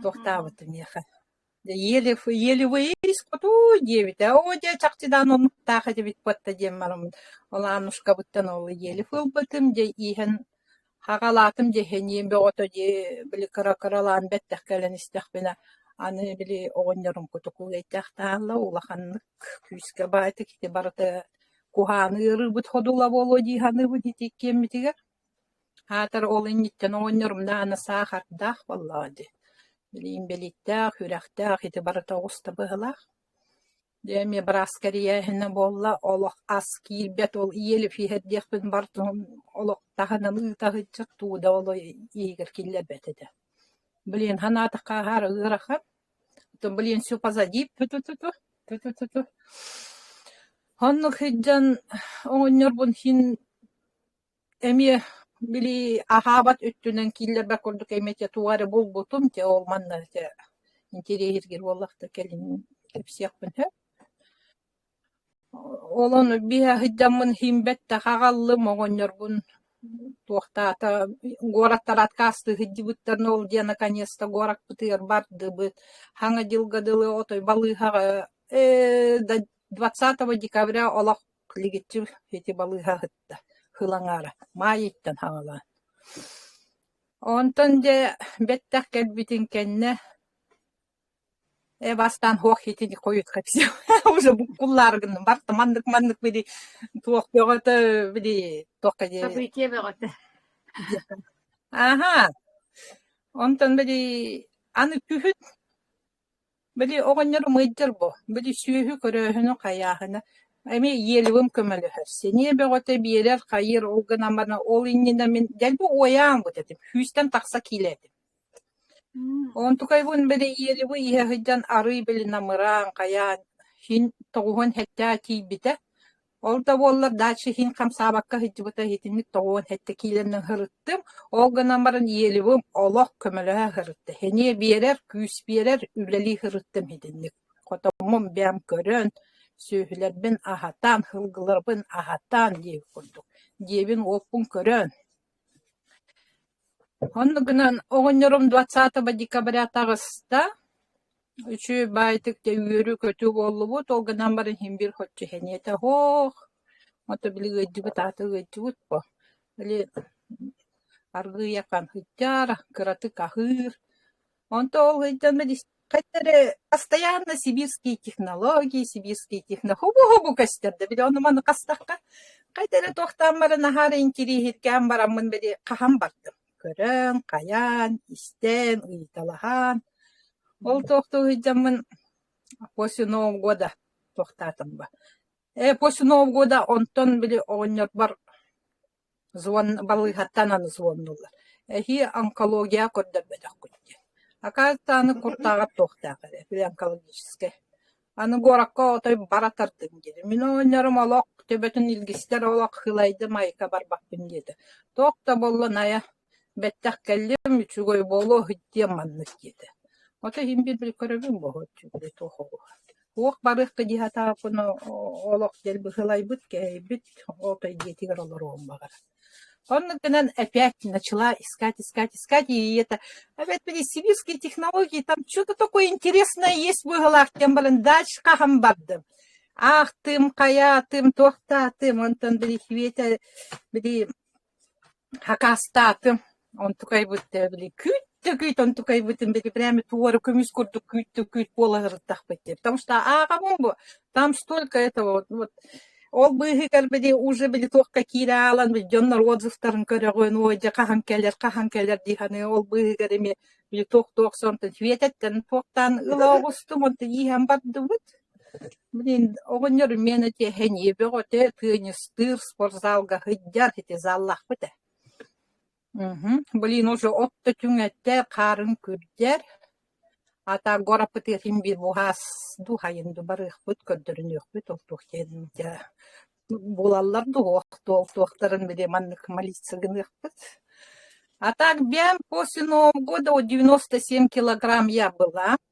туохтаабыта миэхэ ели ели выиск утуу диэбитэ оо дьэ чахчыдаан омуктаах этибит буотта диэн бараммыт ол Аннушкабыттан ол ели ылбытым дьэ ииһэн хаҕалаатым дьэ эһэнием бөҕөтө дии били кыра кыралаан бэттэх кэлэн истэхпинэ аны били оҕонньорум кутуку эйтээх таһалла улаханнык күүскэ баайытык ити барыта куһааны ыарыырбыт ходула буолуо дии саныыбыт ити иккиэммитигэр аатар ол инниттэн оҕонньорумнаана саахардаах буоллаҕа дии билигин бэлииттээх үрэхтээх ити барыта оҕус табыһылаах дьэ эмиэ бырааска эрийээһинэ буолла олох ас киирбэт ол иэлиф иһэр диэхпин бартыһым олох таһынан ыыта сылдьар туу да ол иһигэр киллэрбэт этэ билигин санаатахха аһаары ыарахан То, блин, все позади, ту-ту-ту-ту, ту-ту-ту-ту. Оннук сылдьан оҕонньорбун син эмиэ били аһаабат өттүнэн кииллэрбэр курдук эмиэ те тугу эрэ булбутум, те ол манна те интересиргиир буоллах да кэлин кэпсиэхпин сөп. Олон биһэ сылдьаммын иһин бэттэх аҕаллым, оҕонньорбун туохтаата куораттар откастыы сылдьыбыттар но ол дьиэ наконец-то куораппытыгар бардыбыт. Саҥа дьылга дылы отой балыыһаҕа ээ да двадцатого декабря олох лигиччи ити балыыһа сытта сыл аҥаара маайыттан саҕалаан. Онтон дьэ бэттэх кэлбитин кэннэ Э бастаан һуох итини хойутка все уже буккуллаары гынным барта маннык маннык били туох бөҕөтө били туохха диэри Событие бөҕөтө аха онтон били аны күһүн били оҕонньору мыйдыр бу били сүөһү көрөөһүнү хайааһына эми иелевым көмөлөһөр синиэ бөҕөтө биэрэр хайыыр ол гынан бана ол иннинэ мин дэлби уойаан бут этим сүүстэн тахса киилэ этим Онтукайбын бэлэһиэлибы иһэ сылдьан арыый били намыраан, хайаан, син тоҕуһун сэттэ тиийбитэ. Ол да буоллар дальше син хамсаабакка сылдьыбыта итинник тоҕуһун сэттэ киилэнэн сырыттым. Ол гынан баран иэлибим олох көмөлөһө сырытта. Сэниэ биэрэр, күүс биэрэр, үлэлии сырыттым итинник. Хотоммун бэйэм көрөн, сүөһүлэрбин аһатан, сылгыларбын аһатан диэбит курдук. Дьиэбин-уоппун көрөн Онно гынан оҕонньорум двадцатого декабря таҕыста, үчүгэй баайтык дьэ үөрүү-көтүү буоллубут, ол гынан баран иһин биир хаччыһэниэтэ оһох, ото били ыайдыбыт аата ыайдыбыт буо, били аргыый ахан ыйдьаара, кыратык аһыыр Онто ол ыйдана хайта эрэ постоянно сибирские технологии, сибирские техно хубу-хубу көстөр да били ону маны хастахха хайта эрэ туохтаан бары наһаа интириэһиргээн бараммын били хаһан бардым. Көрөн, хайаан, истэн, ыйыталаһан ол туох да уһуйдьаммын после Нового года туохтаатым ба. Э после Нового года онтон били оҕонньорбор Звон балыыһаттанан звоннулар: «Эһии онкологияҕа көрдөрбөтөххүт» диэн. «Акаастааны куртааҕар туохтаах эрэ, онкологическай. Аны куоракка отой бара тардыҥ» диэри. «Мин оҕонньорум олох, төбөтүн илгистэр олох, хылайдым, айка барбаппын» диэтэ. «Туох да буолла, Найа?» Бэттэх кэллим, үчүгэй буолуо диэн маннык диэтэ. Ото иһин биэрбит көрөбүн буолуо үчүгэй туох оҕуһа. Туох барыахта дии сатааппына олох диэн быһылайбыт, кэһэйбит, отой дьиэтигэр олоруон баҕара. Онно гынан опять начала искать, искать, искать, и это, опять были сибирские технологии, там что-то такое интересное есть быһылаах диэн баран дальше хаһан бардым. Аахтым, хайаатым, туохтаатым, онтон били Хветя, били Акаастаатым, онтукайбыт да били күүт да күүт онтукайбытын били прямо туора көмүс курдук күүт да күүт буола сырыттахпыт диэн. Потому что ааҕабын бу, там столько этого вот, вот. Ол быыһыгар били уже били туохха киираалан били дьоннор отзывтарын көрөҕүн, ой дьэ хаһан кэлэр, хаһан кэлэр диһаны ол быыһыгар эмиэ били туох-туох сонтон Светаттан туохтаан ыла оҕустум, онтон иһэн бардыбыт. Блин, оҕонньор миэнэ тиэхэ ньиэбэҕитэ теннистыыр, спортзалга сылдьар, ити заллаахпыт ээ. Мхм, блин, уже от да түҥэтэ, хаарын күрдьэр. Аата гораппытыахын быһаас дууһайын ду барыахпыт, көрдөрүнүөхпүт ол туох диэн дьэ булаллар дуо, туох туохтарын били маннык молиться гыныахпыт. А так бьям после Нового года вот девяносто семь килограмм я была.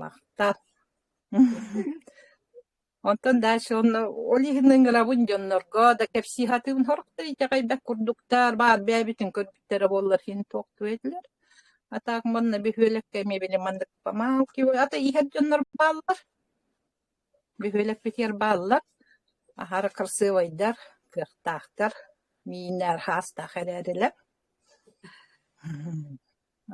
Махтал. Онтон дальше онно ол иһин ыҥырабын дьоннорго да кэпсии сатыыбын сорохтор итэҕэйбэт курдуктар баар бэйэбитин көрбүттэрэ буоллар иһин туох туой этилэр. А так манна бөһүөлэккэ эмиэ били маннык памалки ата иһэр дьоннор бааллар. Бөһүөлэкпитигэр бааллар. Аһара красивайдар, кыахтаахтар. Мииннэр хаастаах эрээрилэр.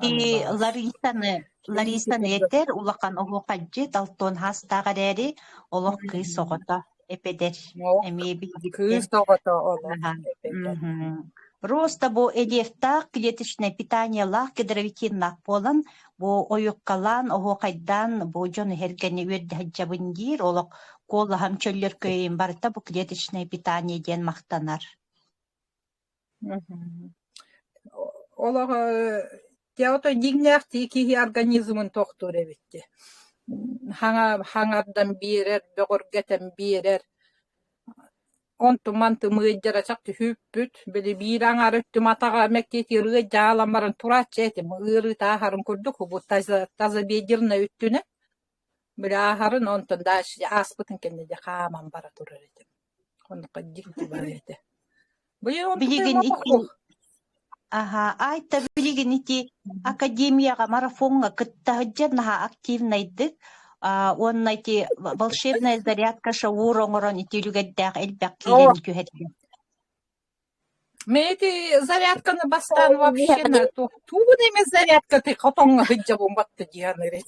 И Ларисаны Ларисаны этэр улахан оһуохайдьыт алтан хаастаах эрээри олох кыыс оҕото эпэдэр Ол эмиэ билбиттэр кыыс оҕото олох Аха. эпэтэр. Мгм. Роста бу элиэфтээх клеточнай питаниелаах гидровитиннаах буолан бу ойуккалаан оһуохайдаан бу дьон иһэргэни үөрдэһэдьэбин диир олох куолаһам чөллөр кыайын барыта бу клеточнай питание диэн махтанар. Олох ото дьиҥнээхтии киһи организмын тохтуур эбит дии. Хаҥа хаҥардан биэрэр, бөҕөргөтөн биэрэр. Онту-манты мыайдара чак түһүүппүт. Били биир аҥаар өттүм атаҕа мэктиэтигэр ырыа дьаалам баран турааччы этим. Ыарыы тааһарын курдук убут тазобедреннай өттүнэн. Бырааһарын онтон дальше ааспытын кэннэ дьэ хааман бара турар этим. Онуоха дьиҥ тулаайах этэ. Быйыл онтон Билигин ити туох аһа айта билигин ити академияҕа марафоҥҥа кытта сылдьан наһаа активнайдык аа уонна ити волшебная зарядка шоур оҥорон ити үлүгэрдээх элбэх киирэн түһэрдим. Мы эти зарядканы бастаан вообще тугунайма зарядка ты хотоҥҥо сылдьабын батта диэн эрэ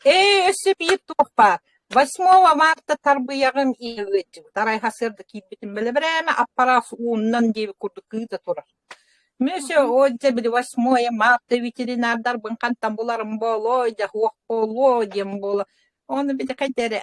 Ээ өссө биир туохпа восьмого марта тарбыйаҕым иилдьыбыт арайха сырда киирбитим бэлэбирээме аппарат ууннан диэби курдук кыыта турар Monsieur Отже били восьмое марта ветеринардарбын хантан буларым буолуой да суох буолуо диэн буола Ону били хайда эрэ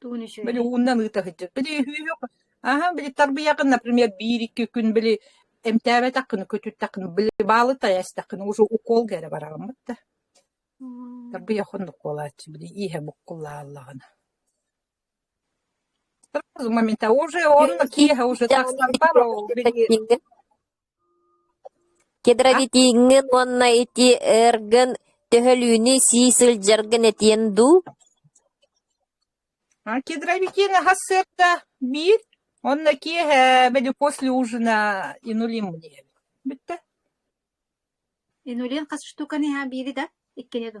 Тугун үчүгэй? Били ууннан ыыта сылдьар. Били үһүөх аһа били тарбыйаҕын, например, биир-икки күн били эмтээбэтэххинэ, көтүттэххинэ, били баалытай эстэххинэ уже укуолга эрэ бараҕыммыт да. Тарбыйах оннук буолааччы били ииһэ буккуллааллаҕына. Сразу момента уже он киэһэ уже так стампара ол били Гидровитиҥҥын уонна ити ыаргын төһөлүүнү сии сылдьаргын этиэҥ дуу? Гидровитины хас сыарда биир уонна киэһэ били после ужина инулим диэн. Бүттэ. Инулин хас штуканы иһа биири да? Иккини да?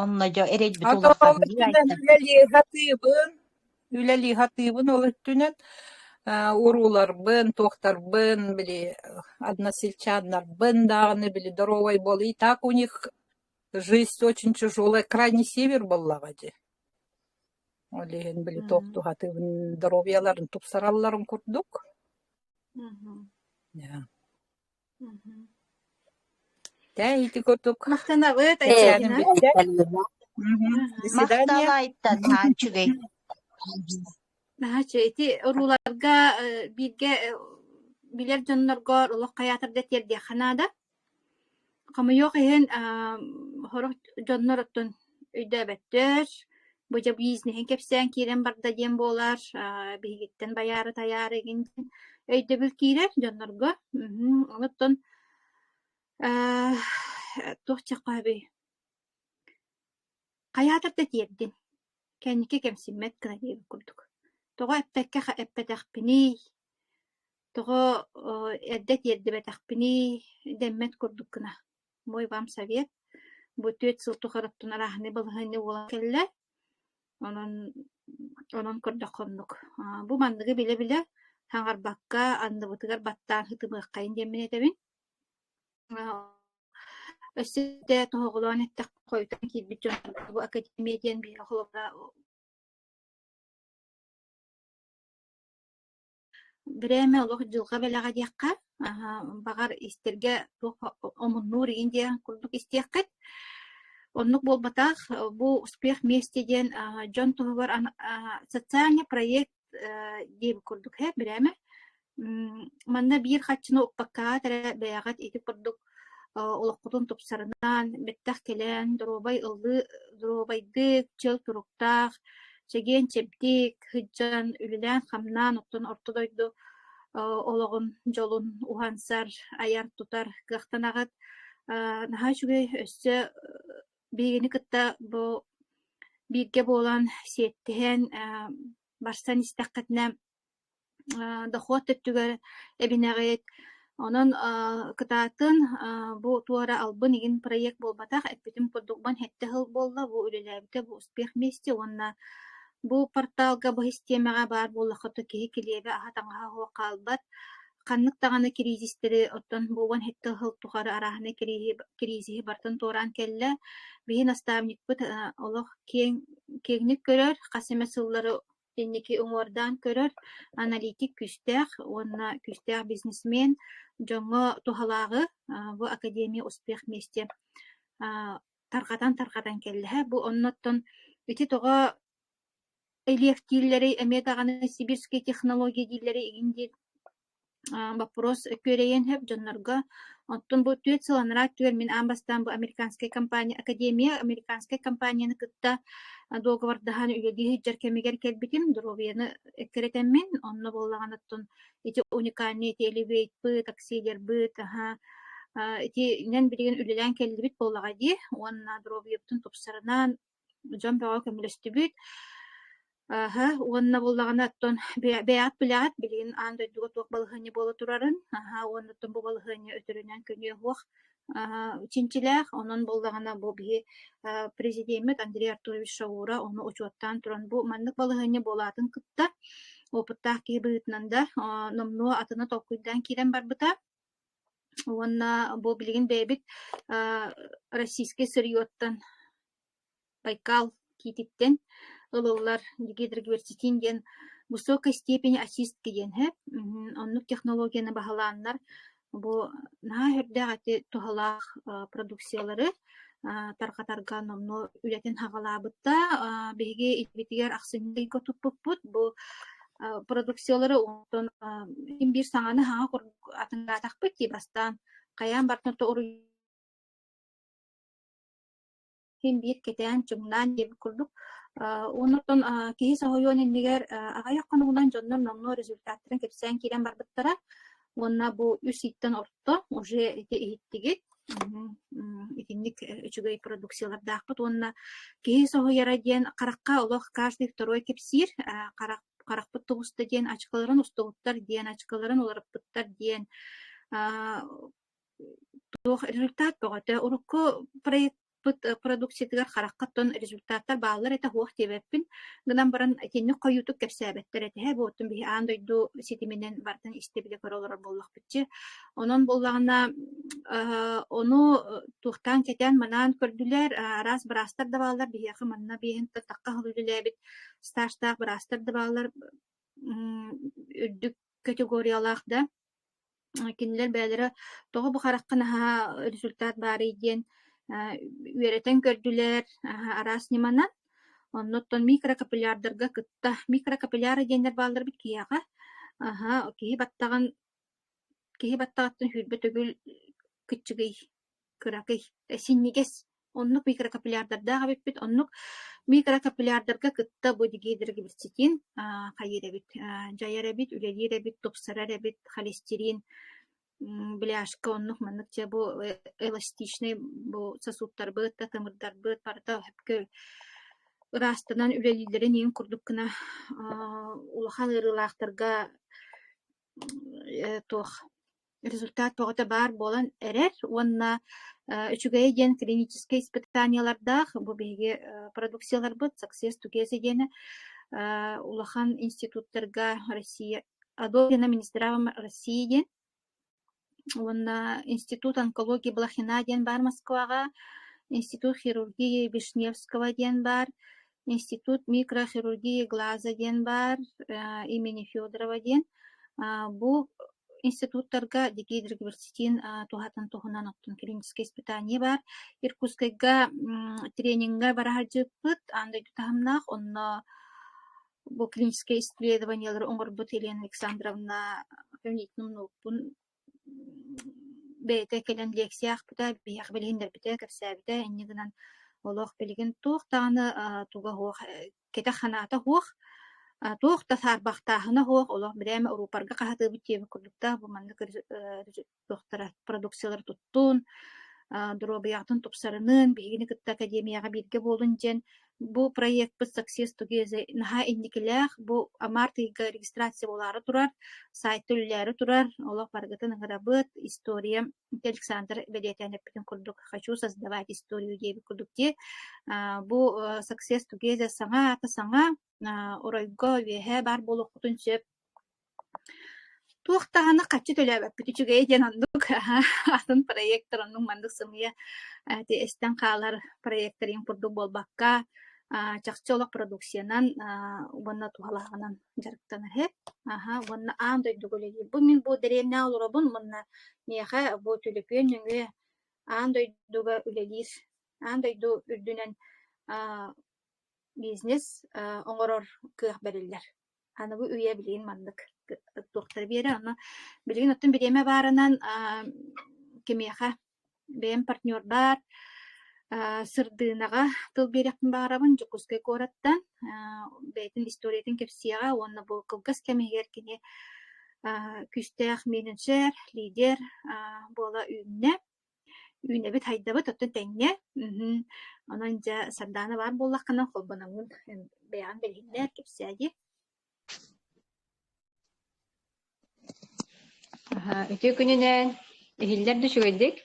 Онно дьэ эрэйбит улахан ол өттүнэн үлэлии сатыыбын, үлэлии сатыыбын ол өттүнэн э, урууларбын, туохтарбын били односельчаннарбын даҕаны били доровай буолуй так у них жизнь очень тяжелая крайний север буоллаҕа дии. Ол иһин били туох туһатыыбын доруобуйаларын тупсаралларын курдук. Мгм. Тээйити курдук Махтанабыт, Айсина. Махталайтан ааччыгай. Наача ити орууларга бииргэ билэр дьоннорго олох хайаатарда тиэрдиэххэ наада. Хомойуох иһин сорох дьоннор оттон өйдөөбөттөр. Бу дьэ бизнеһин кэпсээн киирэн барда диэн буолар. Аа, биһигиттэн байаары тайаары игин өйдөбүл киирэр дьоннорго. Мм, оттон аа, туох чахха эбий? Хайаатар да тиэрдин. Кэнники кэмсиммэт гына диэбит курдук. Тоҕо эппэккэ эппэтэхпиний? Тоҕо э, эрдэ тиэрдибэтэхпиний? Дэммэт курдук гына. бу вам совет бу түөрт сыл тухары оттон арааһынай балаһыанньа буолан кэллэ онон онон көрдөххө оннук бу манныгы билэ-билэ хаҥарбакка анныбытыгар баттаан сытымыаххайын диэммин этэбин өссө да тоһоҕолоон эттэххэ хойутан киирбит дьон бу академия диэн биһиги холобура Время олох дьылҕа бэлэҕэ диэххэ, аһа, баҕар истэргэ туох омуннуур иҥин диэн курдук истиэххит. Оннук буолбатах, бу «Успех вместе» диэн а, дьон туһугар ана- а, социальный проект э, диэн курдук ээ, бирээмэ. М, манна биир хаччыны укпаккаат эрэ бэйэҕит ити курдук олоххутун тупсарынан бэттэх кэлэн доруобай ыллыы доруобайдык чөл туруктаах чэгиэн чэбдик сыдьан үлэлээн-хамнаан оттон орто дойду олоҕун дьолун уһансар айар тутар кыахтанаҕыт наһаа үчүгэй өссө биигини кытта бу бииргэ буолан сиэттиһэн барсан истэххитинэ Э, дохуот өттүгэр эбинэҕит. Онон э, кытаатын, э, бу туора албын игин проект буолбатах, эппитим курдук бан хэтте хыл буолла, бу үлэлээбитэ бу успех месте уонна бу порталга бу систиэмэҕэ баар буоллахыта киһи килиэбэ аһа таҥаһа оһох хаалбат. Ханнык даҕаны кризистэри оттон бу уон хэтте хыл тухары арааһыны кризи кризиһи бартын туораан кэллэ. Биһи наставникпыт э, олох киэҥ киэҥник көрөр, хас эмэ сыллары инники уҥуордаан көрөр аналитик күүстээх уонна күүстээх бизнесмен дьоҥҥо туһалааҕы бу академия успех миэсти тарҕатан-тарҕатан кэллэһэ бу оннуттан ити тоҕо илиэфтииллэри эмиэ даҕаны сибирские технологии дииллэри игин диэн боппуруос күөрэйиэн сөп дьоннорго. Оттон бу түөрт сыл анараа өттүгэр мин аан бастаан бу американскай компания Академия американскай компанияны кытта дуоговордаһан үлэлии сылдьар кэмигэр кэлбитим. Доруобуйаны эккирэтэммин. Онно буоллаҕына оттон ити уникальный телевизорбыт, таксилербыт, аһа, итинэн билигин үлэлээн кэллибит буоллаҕа дии. Уонна доруобуйабытын тупсарынан, дьон бөҕө көмөлөстүбүт аһы уонна буоллаҕына оттон бэйэҕит билэҕит билигин аан дойдуга туох балаһыанньа буола турарын аһа уонна оттон бу балаһыанньа өтөрүнэн күнүө суох чинчилээх онон буоллаҕына бу биһи президеммит Андрей Артурович Шаура ону учуоттаан туран бу маннык балаһыанньа буолаатын кытта опыттаах киһи быһыытынан да номнуо атына толкуйдаан киирэн барбыта Уонна бу билигин бэйэбит российскай сырьеттан Байкал киититтэн ылыллар гидроверситин диэн высокой степени очистки диэн иһэ. Оннук технологияны баһылааннар бу наһаа үрдээх ити туһалаах продукциялары тарҕатарга номнуо үлэтин хаҕалаабыттар. Биһиги итибитигэр ахсынньы ыйга туппуппут бу продукциялары онтон ким биир саҥаны хаҥа курдук атынгаатахпыт дии бастаан хайаан бартын тоҕуруй ким биир кэтээн чуҥнаан диэбит курдук онтон киһи соһуйуон иннигэр аҕыйах хонугунан дьоннор номнуо результаттарын кэпсээн киирэн барбыттара уонна бу үс ииттэн орто уже ити иһиттигит итинник үчүгэй продукциялардаахпыт уонна киһи соһуйара диэн харахха олох каждый второй кэпсиир харах харахпыт тугуста диэн очколарын устубуттар диэн очколарын уларыппыттар диэн туох результат бөҕөтө урукку проект продукциятыгар харахха тон результаттар бааллар этэ хуох диэбэппин гынан баран итинник хойуутук кэпсээбэттэр этиһэ бу оттон биһи аан дойду ситиминэн бартан истибилэ көрө олорор буоллахпытчы онон буоллаҕына ону туохтаан кэтээн манаан көрдүлэр араас быраастар да бааллар биһиэхэ манна биэһин тахха халыылилээбит стажтаах быраастар да бааллар үрдүк категориялаах да кинилэр бэйэлэрэ тоҕо бу харахха наһаа результат баарый диэн үөрэтэн көрдүлэр араас ньыманан онно оттон микрокапиллярдарга кытта микрокапилляры диэннэр бааллар эбит киһиэхэ аһа киһи баттаҕын киһи баттаҕыттан сүүрбэ төгүл кыччыгый кыракый, синньигэс, оннук микрокапиллярдардаах эбиппит. Оннук микрокапиллярдарга кытта бу гидрогибрицитин хайыыр эбит, дьайар эбит, үлэлиир эбит, тупсарар эбит, холестерин, бляшка оннук маннык дьэ бу эластичный бу сосудтарбыт да тымырдарбыт барыта сөпкө ыраастанан үлэлииллэрин иин курдук гына улахан ыарыылаахтарга туох результат бөҕөтө баар буолан эрэр уонна үчүгэйэ диэн клиническэй испытаниелардаах бу биһиги продукцияларбыт саксес тукеса диэни улахан институттарга Россия Адо диэн министра России диэн Уонна институт онкологии Блохина диэн баар Москваҕа, институт хирургии Вишневского диэн баар, институт микрохирургии глаза диэн баар э, имени Федорова диэн. А, бу институттарга Дикий Дриглюцетин а, туһатын туһунан оттон клиническое испытание бар. Иркутскайга трениҥҥэ бара сылдьыппыт, ан дойду таһымнаах, онно бу клиническэй исследованиелары оҥорбут Елена Александровна кабинетин умнуукпун бэйэтэ кэлэн лекция аахпыта, биһиэхэ билиһиннэрбитэ, кэпсээбитэ. Инньэ гынан олох билигин туох даҕаны туга-суох кэтэх-ханаата суох, туох да саарбахтааһына суох, олох бэдээмэ урууппарга хаһытыыбыт диэбит курдуктаах бу маннык туохтара продукциялары туттун, доруобуйаҕытын тупсарыныын биһигини кытта академияҕа бииргэ буолун диэн бу проекпыт Success Together наһаа инникилээх бу амарт ыйга регистрация буолаары турар сайтта үлэлээри турар олох барыгытын ыҥырабыт история Александр бэлиэтээн эппитин курдук хочу создавать историю диэбит курдук дии бу Success Together саҥа аата саҥа оройго үөһэ баар буолуоххутун сөп Туох даҕаны хаччы төлөөбөппүт үчүгэйэ диэн оннук атын проектор оннук маннык сымыйа э, ити эстэн хаалар проекториҥ курдук буолбакка, аа, чахчы олох продукциянан аа, уонна туһалааҕынан дьарыктанар иһит. Аһа, уонна аан дойдуга үлэлиир. Бу мин бу дэриэбинэҕэ олоробун уонна миэхэ бу төлөпүөн нөҥүө аан дойдуга үлэлиир, аан дойду үрдүнэн аа, бизнес а, оҥорор кыах бэриллэр. Аны бу үйэ билигин маннык туохтара биэрэ онно билигин оттон бириэмэ баарынан кимиэхэ бэйэм партнербар сырдыынаҕа тыл биэриэхпин баҕарабын Дьокуускай куораттан бэйэтин историятын кэпсиэҕэ уонна бу кылгас кэм иһигэр кини күүстээх менеджер лидер буола үүннэ Үүнэбит хайдабыт оттон тэҥҥэ. Мм онон дьэ Сардаана баар буоллаххына холбономмун бэйэҕин билиһиннэр, кэпсээйи. Аһа, үтүө күнүнэн. Иһиллэр да үчүгэйдик.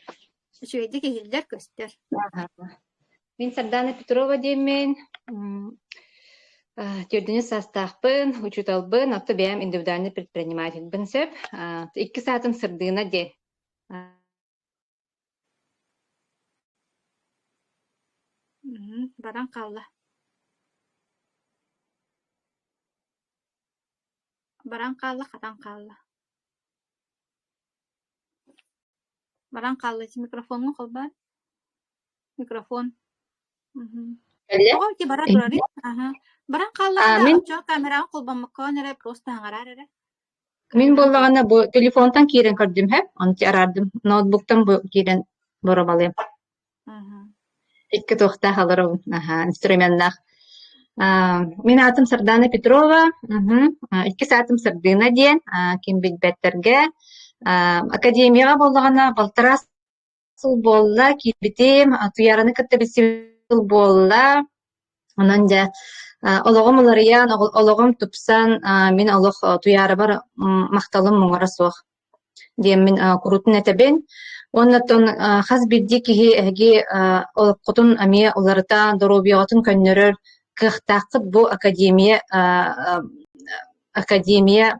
Үчүгэйдик иһиллэр, көстөр. Аһа. Мин Сардаана Петрова диэммин. Тиэрдэнэ саастаахпын, учууталбын, отто бэйэм индивидуальный предпринимательбын сөп. Икки саатын сырдыына диэн баран хаалла баран хаалла хатан хаалла баран хаалла ити микрофоҥҥа холбоон микрофон кэллэ тоҕо ити бара турар аһа баран хааллаҕына оччоҕо камераҕа холбоммокко эрэ просто хаҥараар эрэ Мин буоллаҕына бу телефонтан киирэн көрдүм иһэ, онту араардым. Ноутбуктан бу киирэн боруобалыам. Икки туохтаах олору аһаа, инструменнаах. Аа, мин аатым Сардаана Петрова, мгм, а, иккис аатым Сардыына диэн, а, ким билбэттэргэ. А, академияҕа буоллаҕына балтараа сыл буолла, киирбитим, атыйараны кытта билсибит сыл буолла. Онон дьэ олоҕум уларыйан, олоҕум тупсан, мин олох туйаарыбар махталым муҥура суох диэммин курутун этэбин. Уонна тон хас биирдии киһи эһиги олоххутун эмиэ уларыта, доруобуйаҕытын көннөрөр кыахтааххыт бу академия академия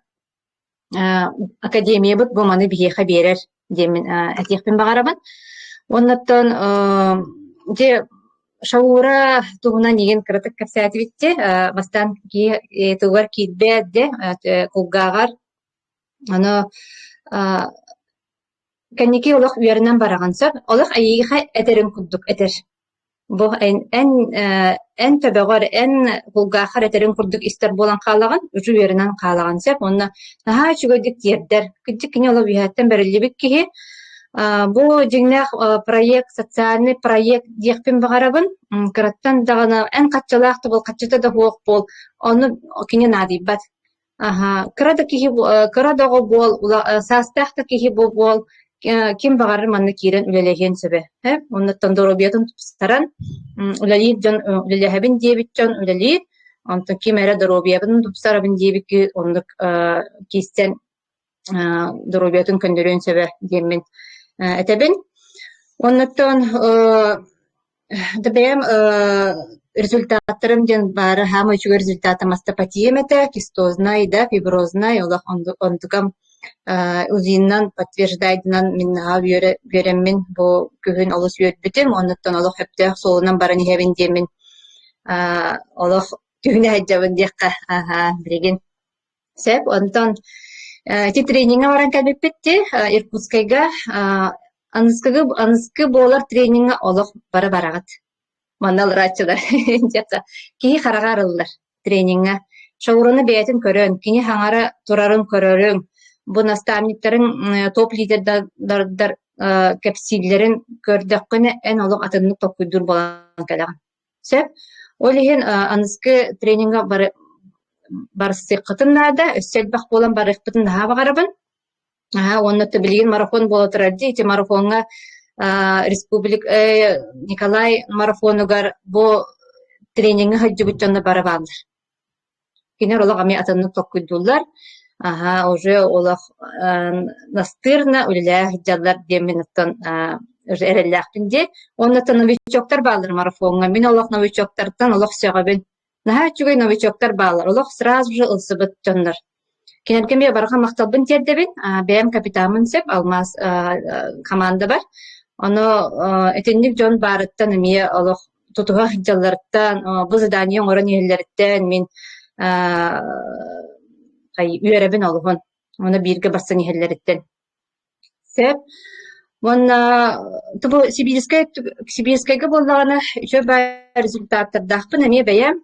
академиябыт бу маны биһиэхэ биэрэр диэммин этиэхпин баҕарабын. Оннуттан дьэ Шаура туһунан игин кыратык кэпсээтибитти, бастаан тылыгар киирбээт дэ, кулгааҕар, аны Кэнники олох үөрэнэн бараҕын сөп, олох эйиэхэ этэрин курдук этэр. Бу эн эн ээ эн төбөҕөр, эн кулгааххар этэрин курдук истэр буолан хаалаҕын, үчүгэй үөрэнэн хаалаҕын сөп. Уонна наһаа үчүгэйдик тиэрдэр. Кырдьык кини ол үөһэттэн бэриллибит киһи. Аа бу дьиҥнээх э проект, социальный проект диэхпин баҕарабын. М кыраттан даҕаны эн хаччалаах да буол, хаччыта да суох буол, ону кини наадыйбат. Аһа, кыра да киһи бу э, кыра доҕо буол, ула э, саастаах да киһи бу буол, э, ким баҕарар манна киирэн үлэлэһиэн сөбө. Э, оннуттан доруобуйатын тупсаран, м, үлэлиир дьон э, үлэлэһэбин диэбит дьон үлэлиир. Онтон ким эрэ доруобуйабын тупсарабын диэбит киһи оннук э, киирсэн доруобуйатын көннөрүөн сөбө диэммин этэбин. Оннуттан да бэйэм результаттарым диэн баара саамай үчүгэй результата мастопатием этэ, кистознай да, фибрознай олох онтукам УЗИнан подтверждайдынан мин наһаа үөрэммин бу күһүн олус үөрбүтүм, оннуттан олох сөптөөх суолунан баран иһэбин диэммин олох түһүнэ сылдьабын диэххэ, аһаа, билигин Сөп. Онтон э, ити трениҥҥэ баран кэлбиппит дии, э, Иркутскайга. Э, аныскыгы аныскы буолар трениҥҥэ олох бары бараҕыт. Манна ылрааччылар дьахта киһи хараҕа арыллар трениҥҥэ. Шоуруну бэйэтин көрөн, кини хаҥара турарын көрөрүҥ, бу наставниктарын э, топ-лидердардар э, кэпсииллэрин көрдөххүнэ, эн олох атыннык толкуйдуур буолан кэлэҕин. Сөп. Ол иһин э, аныгы трениҥҥэ бары барсыаххытын наада, өссө элбэх буолан барыахпытын наһаа баҕарабын. Аһаа, уонна то билигин марафон буола турар дии, ити марафоҥҥа а, республик э, Николай марафонугар бу трениҥҥэ сылдьыбыт дьонно бары бааллар. Кинилэр олох эмиэ атыннык толкуйдууллар, аһа уже олох настырно үлэлэһэ сылдьаллар диэммин оттон эрэллээхпин дии. Уонуттан новичоктар бааллар марафоҥҥа. Мин олох новичоктартан олох сөҕөбүн. Наһаа үчүгэй новичоктар бааллар, олох сразу же ылсыбыт дьоннор. Кинилэргэ эмиэ барҕа махталбын тиэрдэбин. Бэйэм капитаммын сөп, алмаас хамаандабар. Ону итинник дьон баарыттан эмиэ олох тутуһа сылдьалларыттан, бу задание оҥорон иһэллэриттэн мин үөрэбин олуһун. Ону бииргэ барсан иһэллэриттэн. Сөп. Уонна тобу сибиирскэй сибиирскэйгэ буоллаҕына үчүгэй баай результаттардаахпын эмиэ бэйэм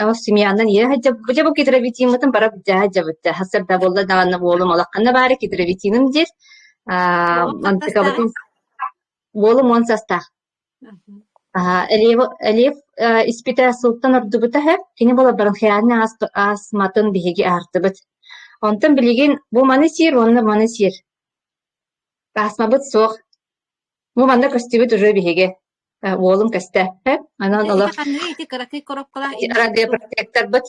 ол семьянан ийэ сылдьабын хотя бы гидровитиммытын бара дьэ сылдьабыт сарсыарда буолла даҕаны уолум улаханна баара гидровитиным диир аа антикабытын уолум уон састаах Элиев испитэ сылтан ордубута үһү. Кини буолар баран хайаанньа астматын биһиги аһардыбыт. Онтон билигин бу маны сиир уонна маны сиир. Астмабыт суох. Бу манна көстүбүт ырыа биһиги. Уолум көстөөппө. Онон олох радиопротекторбыт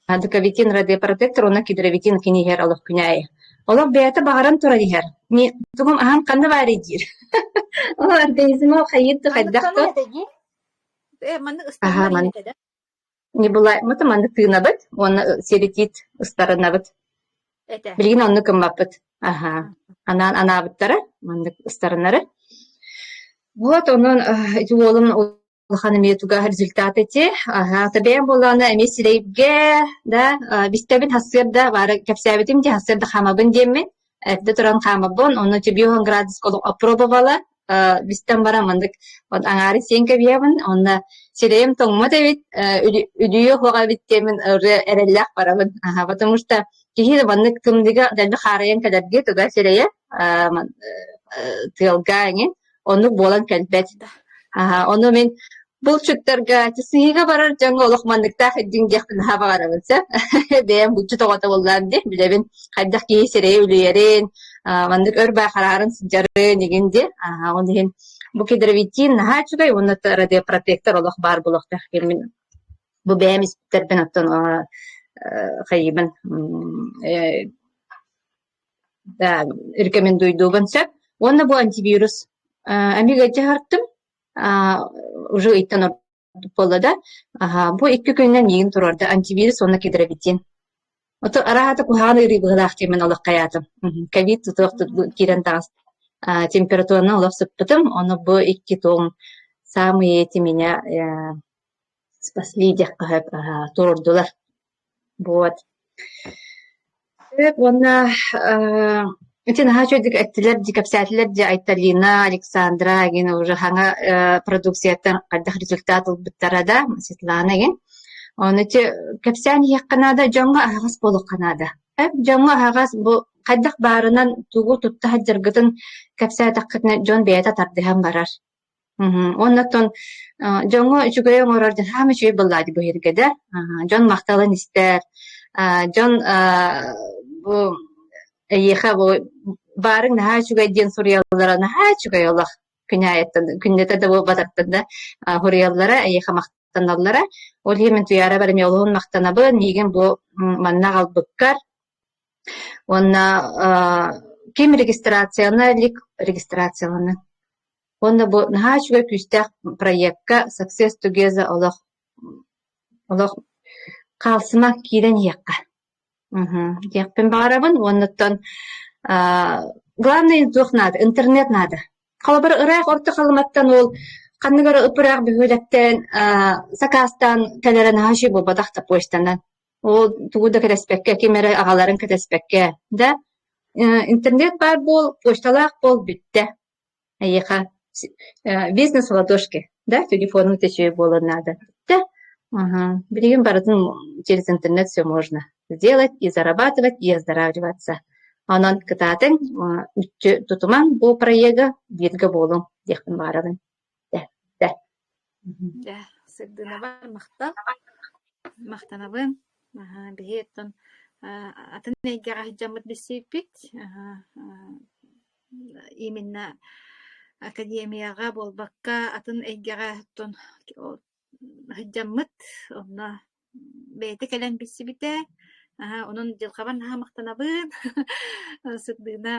Адыковитин радиопротектор уонна гидровитин кини иһэр олох күнэ аайы. Олох бэйэтэ баҕаран туран иһэр. Тугум аһан ханна баарый диир. Ол организм ол хайыт хайдах то? Э маннык ыстарынан да. Не бывает. Мы маннык тыынабыт уонна серетит ыстарынабыт. Билигин онну кыммаппыт. Аха. Анаан анаабыттара маннык ыстарыннары. Вот онон уолум улахан эмиэ тугар результат эти аһаата бэйэм буоллаҕына эмиэ сирэйгэ да бистэбин хасыарда баара кэпсээбитим дии хасыарда хаамабын диэммин эрдэ туран хаамабын онно тибиохан градуска олох опробовала бистэн баран мандык вот аҥаары сиэн кэбиһэбин онно сирэйим тоҥмот эбит үдүйө хоҕа эбит диэмин эрэллээх барабын потому что киһи маннык тымныыга дэлби хаарыйан кэлэргэ туга сирэйэ тыалга эҥин Оннук буолан кэлбэт. Аһа, ону мин булчуттарга сыһыыга барар дьоҥҥо олох манныктаах идиҥ диэхпин наһаа баҕарабын сөп. Бэйэм булчут оҕото буоллаам дии, билэбин хайдах киһи сирэйи үлүйэрин, маннык өр баа хараарын сыдьарын игин дии. Аһа, он иһин бу кедровитин наһаа үчүгэй уонна радиопротектор олох баар булуохтаах кэмин бу бэйэм испиттэрбин оттон хайыыбын рекомендуйдубун сөп уонна бу антивирус эмигэ дьаһартым уже ыйтан буолла да бу икки күнүнэн миигин туруорда антивирус уонна гидровитин ото араата куһаҕан ыарыы быһыылаах диэмин олох хайаатым ковид тутуох киирэн таҕыс температураны олох сыппытым ону бу икки туом саамый тимине Спасли диэххэһэт аһаа туруордулар. Буот. Сөп уонна аа ити наһаа үчүгэйдик эттилэр дии, кэпсээтилэр дии Айталина, Александра игин уже хаҥа ээ продукцияттан хайдах результат ылбыттара да Светлана игин. Ону ити кэпсээн иһиэххэ наада, дьоҥҥо аһаҕас буолуохха наада. Эп дьоҥҥо аһаҕас бу хайдах баарынан тугу тутта сылдьаргытын кэпсээтэххитинэ дьон бэйэтэ тардыһан барар. Мгм. Уонна оттон э, дьоҥҥо үчүгэй оҥорор дьон саамай үчүгэй буоллаҕа дии бу иһиргэдэ. Аһа, дьон махталын истэр, а, дьон а, бу эйиэхэ бу баарыҥ наһаа үчүгэй диэн суруйаллара наһаа үчүгэй олох күнээйиттэн күннэтэ да буолбатахтан да а, суруйаллара эйиэхэ махтаналлара. Ол иһин мин Туйаара бэрт эмиэ олуһун махтанабын миигин бу м, манна аҕалбыккар Уонна аа ким регистрацияны илик регистрацияланан уонна бу наһаа үчүгэй күүстээх проекка Success Together олох олох хаалсыма киирэн иһиэххэ мм диэхпин баҕарабын уонуттан аа главное туох наада интернет наада холобур ыраах Орто Халыматтан уол ханнык эрэ ып-ыраах бөһүөлэктэн аа сакаастаан кэлэрэ наһаа үчүгэй буолбатах да почтанан Ол тугу да кэтэспэккэ, ким эрэ аҕаларын кэтэспэккэ, да, э, интернет баар буол, почталаах буол, бүттэ. Эйиэхэ э, бизнес в ладошке, да, телефонун төсүө буолан наада. Да, ага, билигин барытын через интернет все можно сделать и зарабатывать, и оздоравливаться. Онон кытаатыҥ, э, үтчү тутумаҥ бу проега бииргэ буолуҥ диэхпин баарабын. Дэ, сырдынабар махтал. Махтанабын. Аһа, биһи оттон а, атын эйгэҕэ сылдьаммыт билсииппит. Аһа, а, именно академияҕа буолбакка атын эйгэҕэ оттон сылдьаммыт. Онно бэйэтэ кэлэн билсибитэ. Аһа, онон дьылҕабар наһаа махтанабын. Сырдыына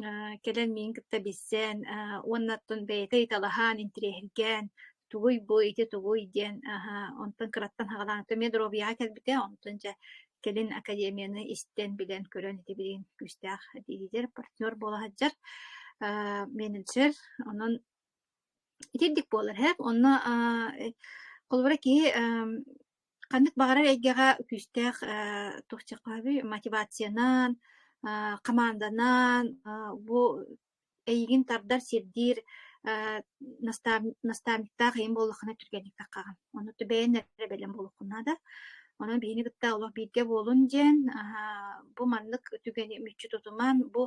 Э, кэлэн миин кытта билсэн, аһа, уонна оттон бэйэтэ ыйыталаһан, интириэһиргээн, "Тугуй бу, ити тугуй?" диэн, аһа, онтон кыраттан хаҕалаан, "Ата эмиэ доруобуйаҕа кэлбитэ, онтон дьэ кэлин академияны истэн, билэн, көрөн ити билигин күүстээх диидэр, партнер буола сылдьар, э, менеджер. Онон итирдик буолар иһэ. Онно, а, э, холобура киһи, эм Ханнык баҕарар эйгэҕэ күүстээх э, туохчахоһоби мотивациянан, э, хамаанданан э, бу эйигин тардар, сирдиир э, наставниктаах ийин буоллаххына түргэнник таххаҕын. Ону бэйэн эрэ бэлэм буолуккуна да. Онон биһини кытта олох бииргэ буолун диэн бу маннык түгэни мүччү тутуман бу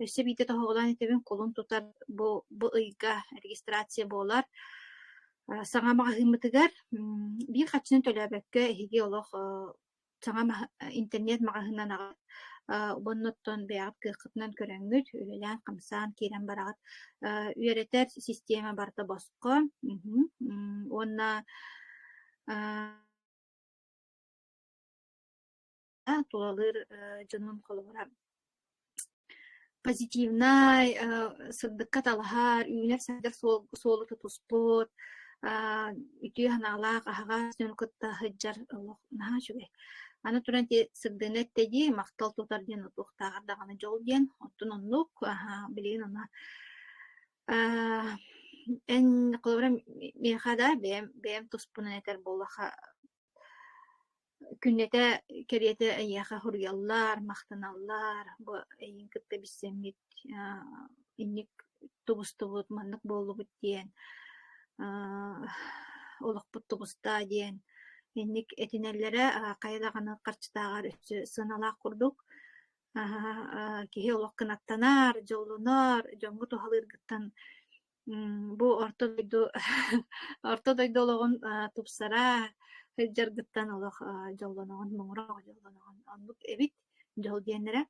өссө биирдэ тоһоҕолоон итэбин кулун тутар бу бу ыйга регистрация буолар. Саҥа маҕаһыыммытыгар биир харчыны төлөөбөккө эһиги олох саҥа интернет-маҕаһыыннан аҕат уонна оттон бэйэҕит кыаххытынан көрөҥҥүт, үлэлээн-хамсаан киирэн бараҕыт. Үөрэтэр систиэмэ барыта босхо уонна А тулалыыр дьонум холобура позитивнай, сырдыкка талаһар, үүнэр-сайдар суолу тутуспут, үтүө санаалаах, аһаҕас дьону кытта сылдьар олох наһаа үчүгэй. Аны туран ити сырдыыны эттэйии, махтал тутар диэн утуктааҕар даҕаны дьол диэн, оттон оннук, билигин ана эн холобура миэхэ да бэйэм бэйэм туспунан этэр буоллахха Күннэтэ кэриэтэ эйиэхэ суруйаллар, махтаналлар, бу эйигин кытта билсэммит аа инник тубустубут, маннык буоллубут диэн, аа олохпут тубустаа диэн инник этинэллэрэ аа хайа даҕаны харчытааҕар өссө сыаналаах курдук. Аһаа киһи олох кынаттанар, дьоллонор, дьоҥҥо туһалыыргыттан Бу орто дойду орто дойду олоҕун тупсара сылдьаргыттан олох дьоллоноҕун муҥура оҕо дьоллоноҕун оннук эбит дьол диэннэрэ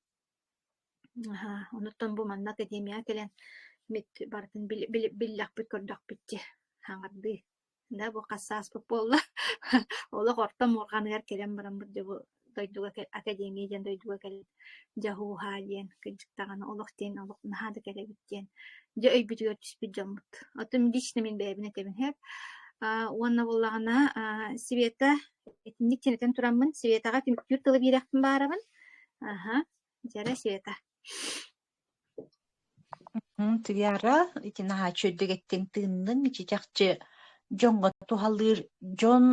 онуттан бу манна академияҕа кэлэн барытын биллэхпит көрдөхпүт дьэ хаҥардыы Да бу хас сааспыт буолла олох орто муорҕаныгар кэлэн бараммыт дьобу дойдуга академия диэн дойдуга кэлэн дьаһууһаа диэн кырдьык даҕаны олох диэн олох наһаа да кэлэбит диэн дьэ өйбүтүгэр түспүт дьоммут отун лично мин бэйэбин этэбинэһэр уонна буоллаҕына Света итинник тэнитэн тураммын Светаҕа түмүктүүр тылы биэрэхпин баарабын аха дьэрэ Света Тиара, итин аһааччы үрдүгэттэн тыынныҥ, чичахчы дьоҥҥо туһалыыр дьон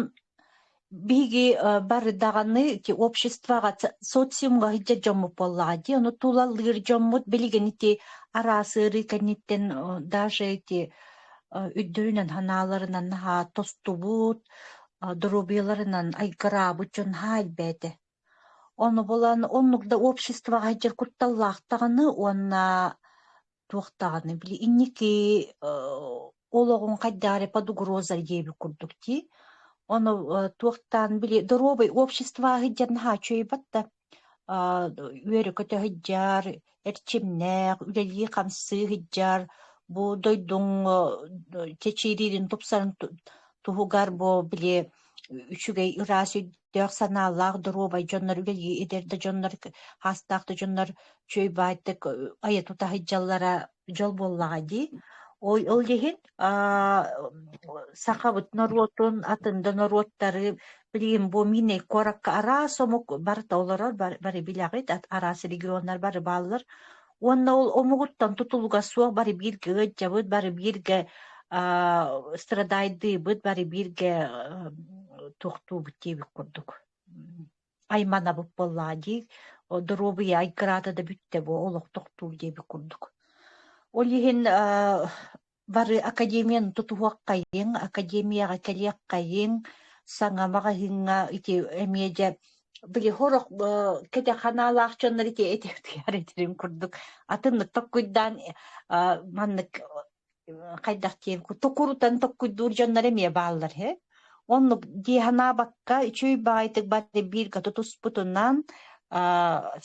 биһиги бары даҕаны ити обществоҕа, социумҥа иһдьэ дьоммут буоллаҕа дии, ону тулалыыр дьоммут билигин ити араас ыарыы кэнниттэн даже ити өйдөрүнэн, санааларынан наһаа тостубут, доруобуйаларынан айгыраабыт дьон наһаа элбээтэ. Ону булан оннук да обществоҕа сылдьар кутталлаах даҕаны уонна туох даҕаны били инники олоҕуҥ хайдах эрэ под угроза диэбит курдук дии. Ону туохтаан били доруобай общество сылдьар наһаа үчүгэйбат да үөрэ-көтө сылдьар эрчимнээх, үлэлии-хамсыы сылдьар, бу дойдуҥ чэчиириирин тупсарын туһугар бу били үчүгэй ыраас өйдөөх санаалаах доруобай дьоннор үлэлии эдэр да дьоннор хаастаах да дьоннор чүөй баайтык айа тута сылдьаллара дьол буоллаҕа дии. Ол ол иһин сахабыт норуотун атын да норуоттары билигин бу мини куоракка араас омук барыта олорор бары билэҕит араас регионнар бары бааллар уонна ол омугуттан тутулуга суох бары бииргэ ыалдьабыт бары бииргэ страдайдыыбыт бары бииргэ тохтуубут диэбит курдук айманабыт буоллаҕа дии, о доруобуйа айгыраата да бүттэ буо олохтохтуу диэбит курдук. Ол иһин аа бары академияны тутуһуоххайыҥ, академияҕа кэлиэххайыҥ, саҥа маҕаһыыҥҥа ити эмиэ дьэ били сорох б кэтэх ханаалаах дьоннор ити эти утуйар этилин курдук атын токкуйдаан а маннык хайдах диэн токурутан токкуйдуур дьоннор эмиэ бааллар үһү оннук дии санаабакка үчүгэй баҕайытык бары бииргэ тутуспутунан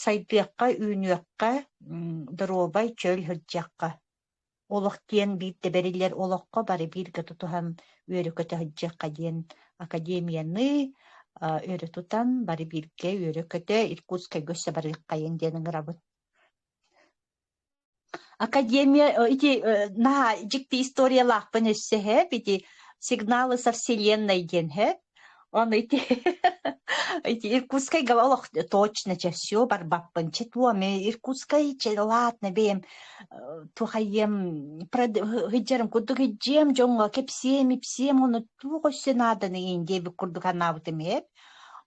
сайдыахха үүнүөххэ доруобай чөл сылдьыахха олох диэн биир да бэриллэр олоххо бары бииргэ тутуһан үөрэ-көтө сылдьыахха диэн академияны өрө тутан бары бииргэ үөрэ-көтө Иркутскайга өссө барыаххайын диэн ыҥырабын Академия э, ити э, наһаа дьикти историялаахпын өссө һэп ити Сигналы со вселенной диэн һэп ону ити эти Иркутскайга олох точно чэ все барбаппын чэ туоми Иркутскай чэ ладно бэйэм э, тухайем хыддьарым курдук хыддьиэм дьоҥҥо кэпсиэм ипсиэм ону туох өссө нааданы индиэбит курдук анаабытым һэп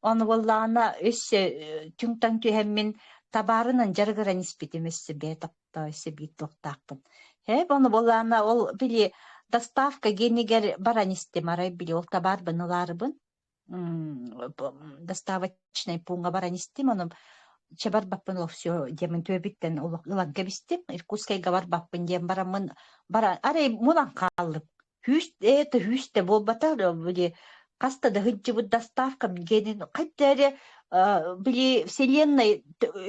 Ону буоллаҕына өссө э, түҥтан түһэммин табаарынан дьарыгыран испитим өссө бэйэ таптаа өссө биир туохтаахпын. Һэп, ону буоллаҕына ол били доставка генигэр баран истим арай били ол табаарбын ылаарыбын. доставочнай пууҥҥа баран истим ону чабарбаппын ол все диэмин түөбүттэн ылан кэбистим Иркутскайга барбаппын диэн бараммын баран арай мунан хааллым Күүс ээ, төһүүс да буолбата, били хаста да сылдьыбыт доставкам диэнин хайда эрэ э, били вселенной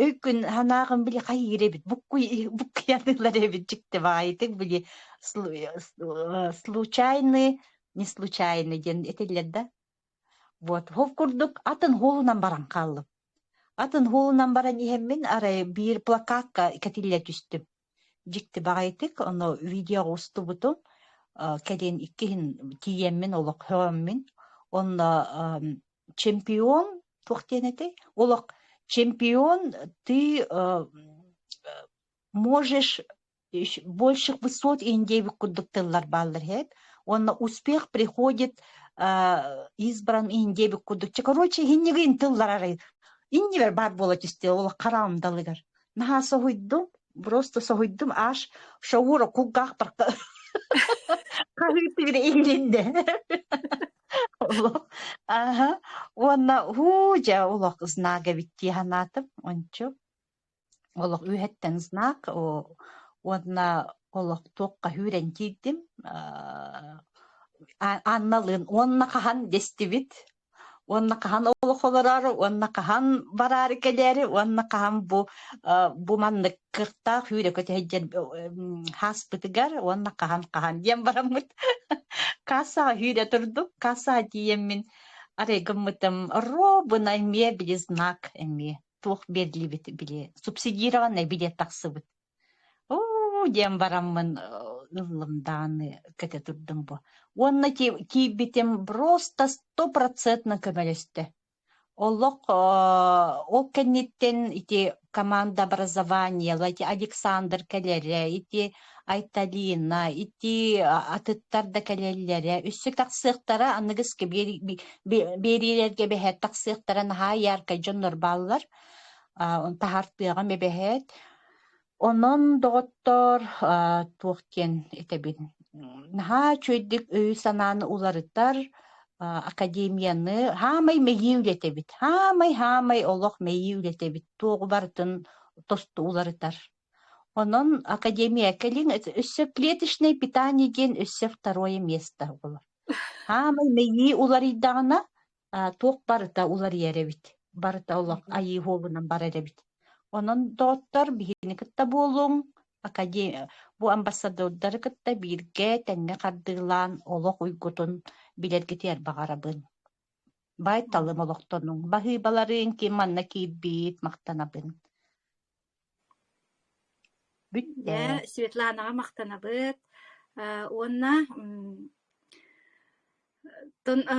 өйкүн санааҕын били хайыыр эбит буккуй буккуйаныылар эбит дьикти баайытык били слу- э, случайный не случайный диэн этиллэр да вот ол курдук атын хуолунан баран хааллым атын хуолунан баран иһэммин арай биир плакатка кэтиллэ түстүм дьиктибэҕэйдик ону видеоҕа устубутум кэлин иккиһин тиийэммин олох һөҕөммүн онно чемпион туох диэн этэй олох чемпион ты можешь больше высот индеевик курдук тыллар бааллар иһэт уонна успех приходит избран индеевик курдук короче иһиннигин тыллар арай иннибэр баар буола түстэ ол хараам далыгар наһаа соһуйдум просто соһуйдум аж шоура кулгаахтарка хаһыытыбыра иннинде олох аха уонна һуу дьэ олох знак эбит дии санаатым ончу олох үһэттэн знак уонна олох туохха хүрэн киирдим анналыын уонна хаһан дэстибит уонна хаһан олох олороору, уонна хаһан бараары кэлээри, уонна хаһан бу бу маннык кыртаах үүрөкө тэһэйдьэр хааспытыгар, уонна хаһан-хаһан диэн бараммыт. Кассаҕа үүрэ турдук, кассаҕа тиийэммин арыйгыммытым робунай мебели знак эмиэ туох берлибит били субсидированный билет тахсыбыт Оо, диэн бараммын э, ыллым даҕаны кэтэ турдум бу. Уонна тиий- тиийбитим просто стопроцентно көмөлөстө. Олох э, ол кэнниттэн ити команда образованиела, ити Александр кэлэрэ, ити Айталина, ити а- атыттар да кэлэллэрэ, өссө тахсыахтара, аныгыскы биэри- би- би- биэриилэргэ бэһэр тахсыахтара наһаа яркай дьоннор бааллар. таһартыаҕым эбэһээт Онон доҕоттоор туох диэн этэбин наһаа үчүгэйдик өйү-санааны уларытар академияны хаамай мэйии үлэтэбит хаамай-хаамай олох мэйии үлэтэбит туоҕу барытын тосту уларытар онон академия кэлин өссө клеточное питание диэн өссө второе место буолар хаамай мэйии уларыйдаҕына туох барыта уларыйар эбит. Барыта олох айыы уолунан барар эбит. Онон доҕоттор, биһигини кытта буолуҥ. Академия, бу амбассадордары кытта бииргэ тэҥҥэ хардыылаан олох уйгутун билэргитигэр баҕарабын. Байталым олохтонуҥ. Баһыыбаларыын ким манна киирбит махтанабын. Бүт ээ, Светланаҕа махтанабыт. Э, уонна м, тон, э,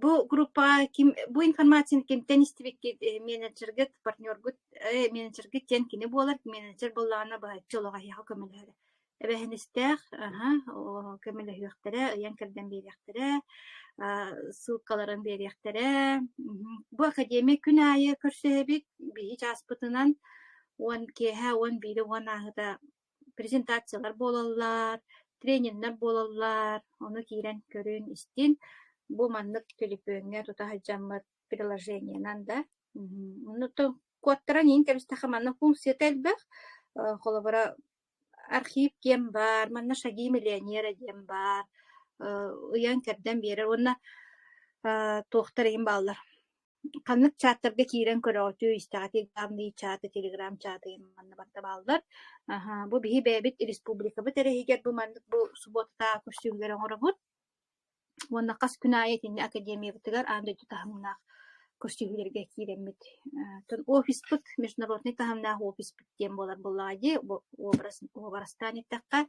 бу группаҕа ким, бу информацияны кимтэн истибиккит, э, менеджергыт, партнергут, э, менеджергит диэн кини буолар, менеджер буоллаҕына быһаччы олоҕоһуйаха көмөлөһөрө. Эбэһинэстээх, аһа, о көмөлөһүөхтэрэ, ыйан-кэрдэн биэриэхтэрэ, аа ссылкаларын биэриэхтэрэ. Мгм. Бу академия күн аайы көрсүһэбит биһиги чааспытынан уон киэһэ уон биирэ уон ааһыта презентациялар буолаллар, тренердэр буолаллар, ону киирэн көрүн-истин. Бу маннык телефөҥҥө тута сылдьаммыт приложениенан да. Мгм. Ону то куоттаран иһин кэбистэхэ манна функцията элбэх. Э, холобура архив киэм баар, манна «Шаги миллионера» диэн баар, э, ыйан-кэрдэн биэрэр уонна э, туохтар эйигин бааллар ханнык чааттарга киирэн көрөҕүтүй, истэҕитий главный чаты, телеграм-чатыйын манна барта бааллар. Аһа, бу биһи бэйэбит республикабыт эрэһигэр бу маннык бу субуотатааҕы көстүүмнэри оҥоробут. Уонна хас күн аайы итиннэ академиябытыгар аан дойду таһымнаах көрсүһүүлэргэ киирэммит. офиспыт, международнай таһымнаах офиспыт диэн буолар буоллаҕа дии, уобарастаан эттэххэ.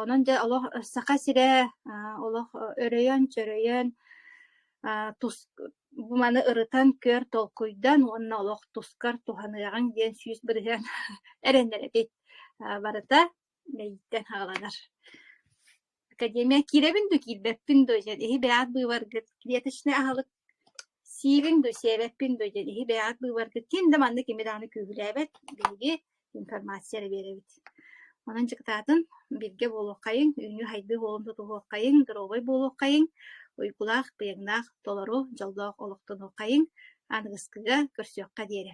онон дьэ олох Саха сирэ олох өрөйөн-чөрөйөн, бу маны ырытан, көр, толкуйдан уонна олох тускар туһаныаҕыҥ диэн сүүс бырыһыан эрэнэр эбит. барыта Мэйиттэн хааланар. Академия киирэбин да киирбэппин дуо диэн иһи бэйэҕит быыбаргыт клеточный аһылык сиибиҥ дуо сиэбэппин дуо диэн иһи бэйэҕит быыбаргыт ким да маннык кими даҕаны күүһүлээбэт биһиги информация эрэ биэрэбит онон дьокутаатын биргэ буолуоххайыҥ үүнүү хайдыы буолан тутуһуоххайыҥ доруобай буолуоххайыҥ уйгулаах быйаҥнаах толору дьоллоох олохтонуоххайыҥ аныгыскыга көрсүөххэ диэри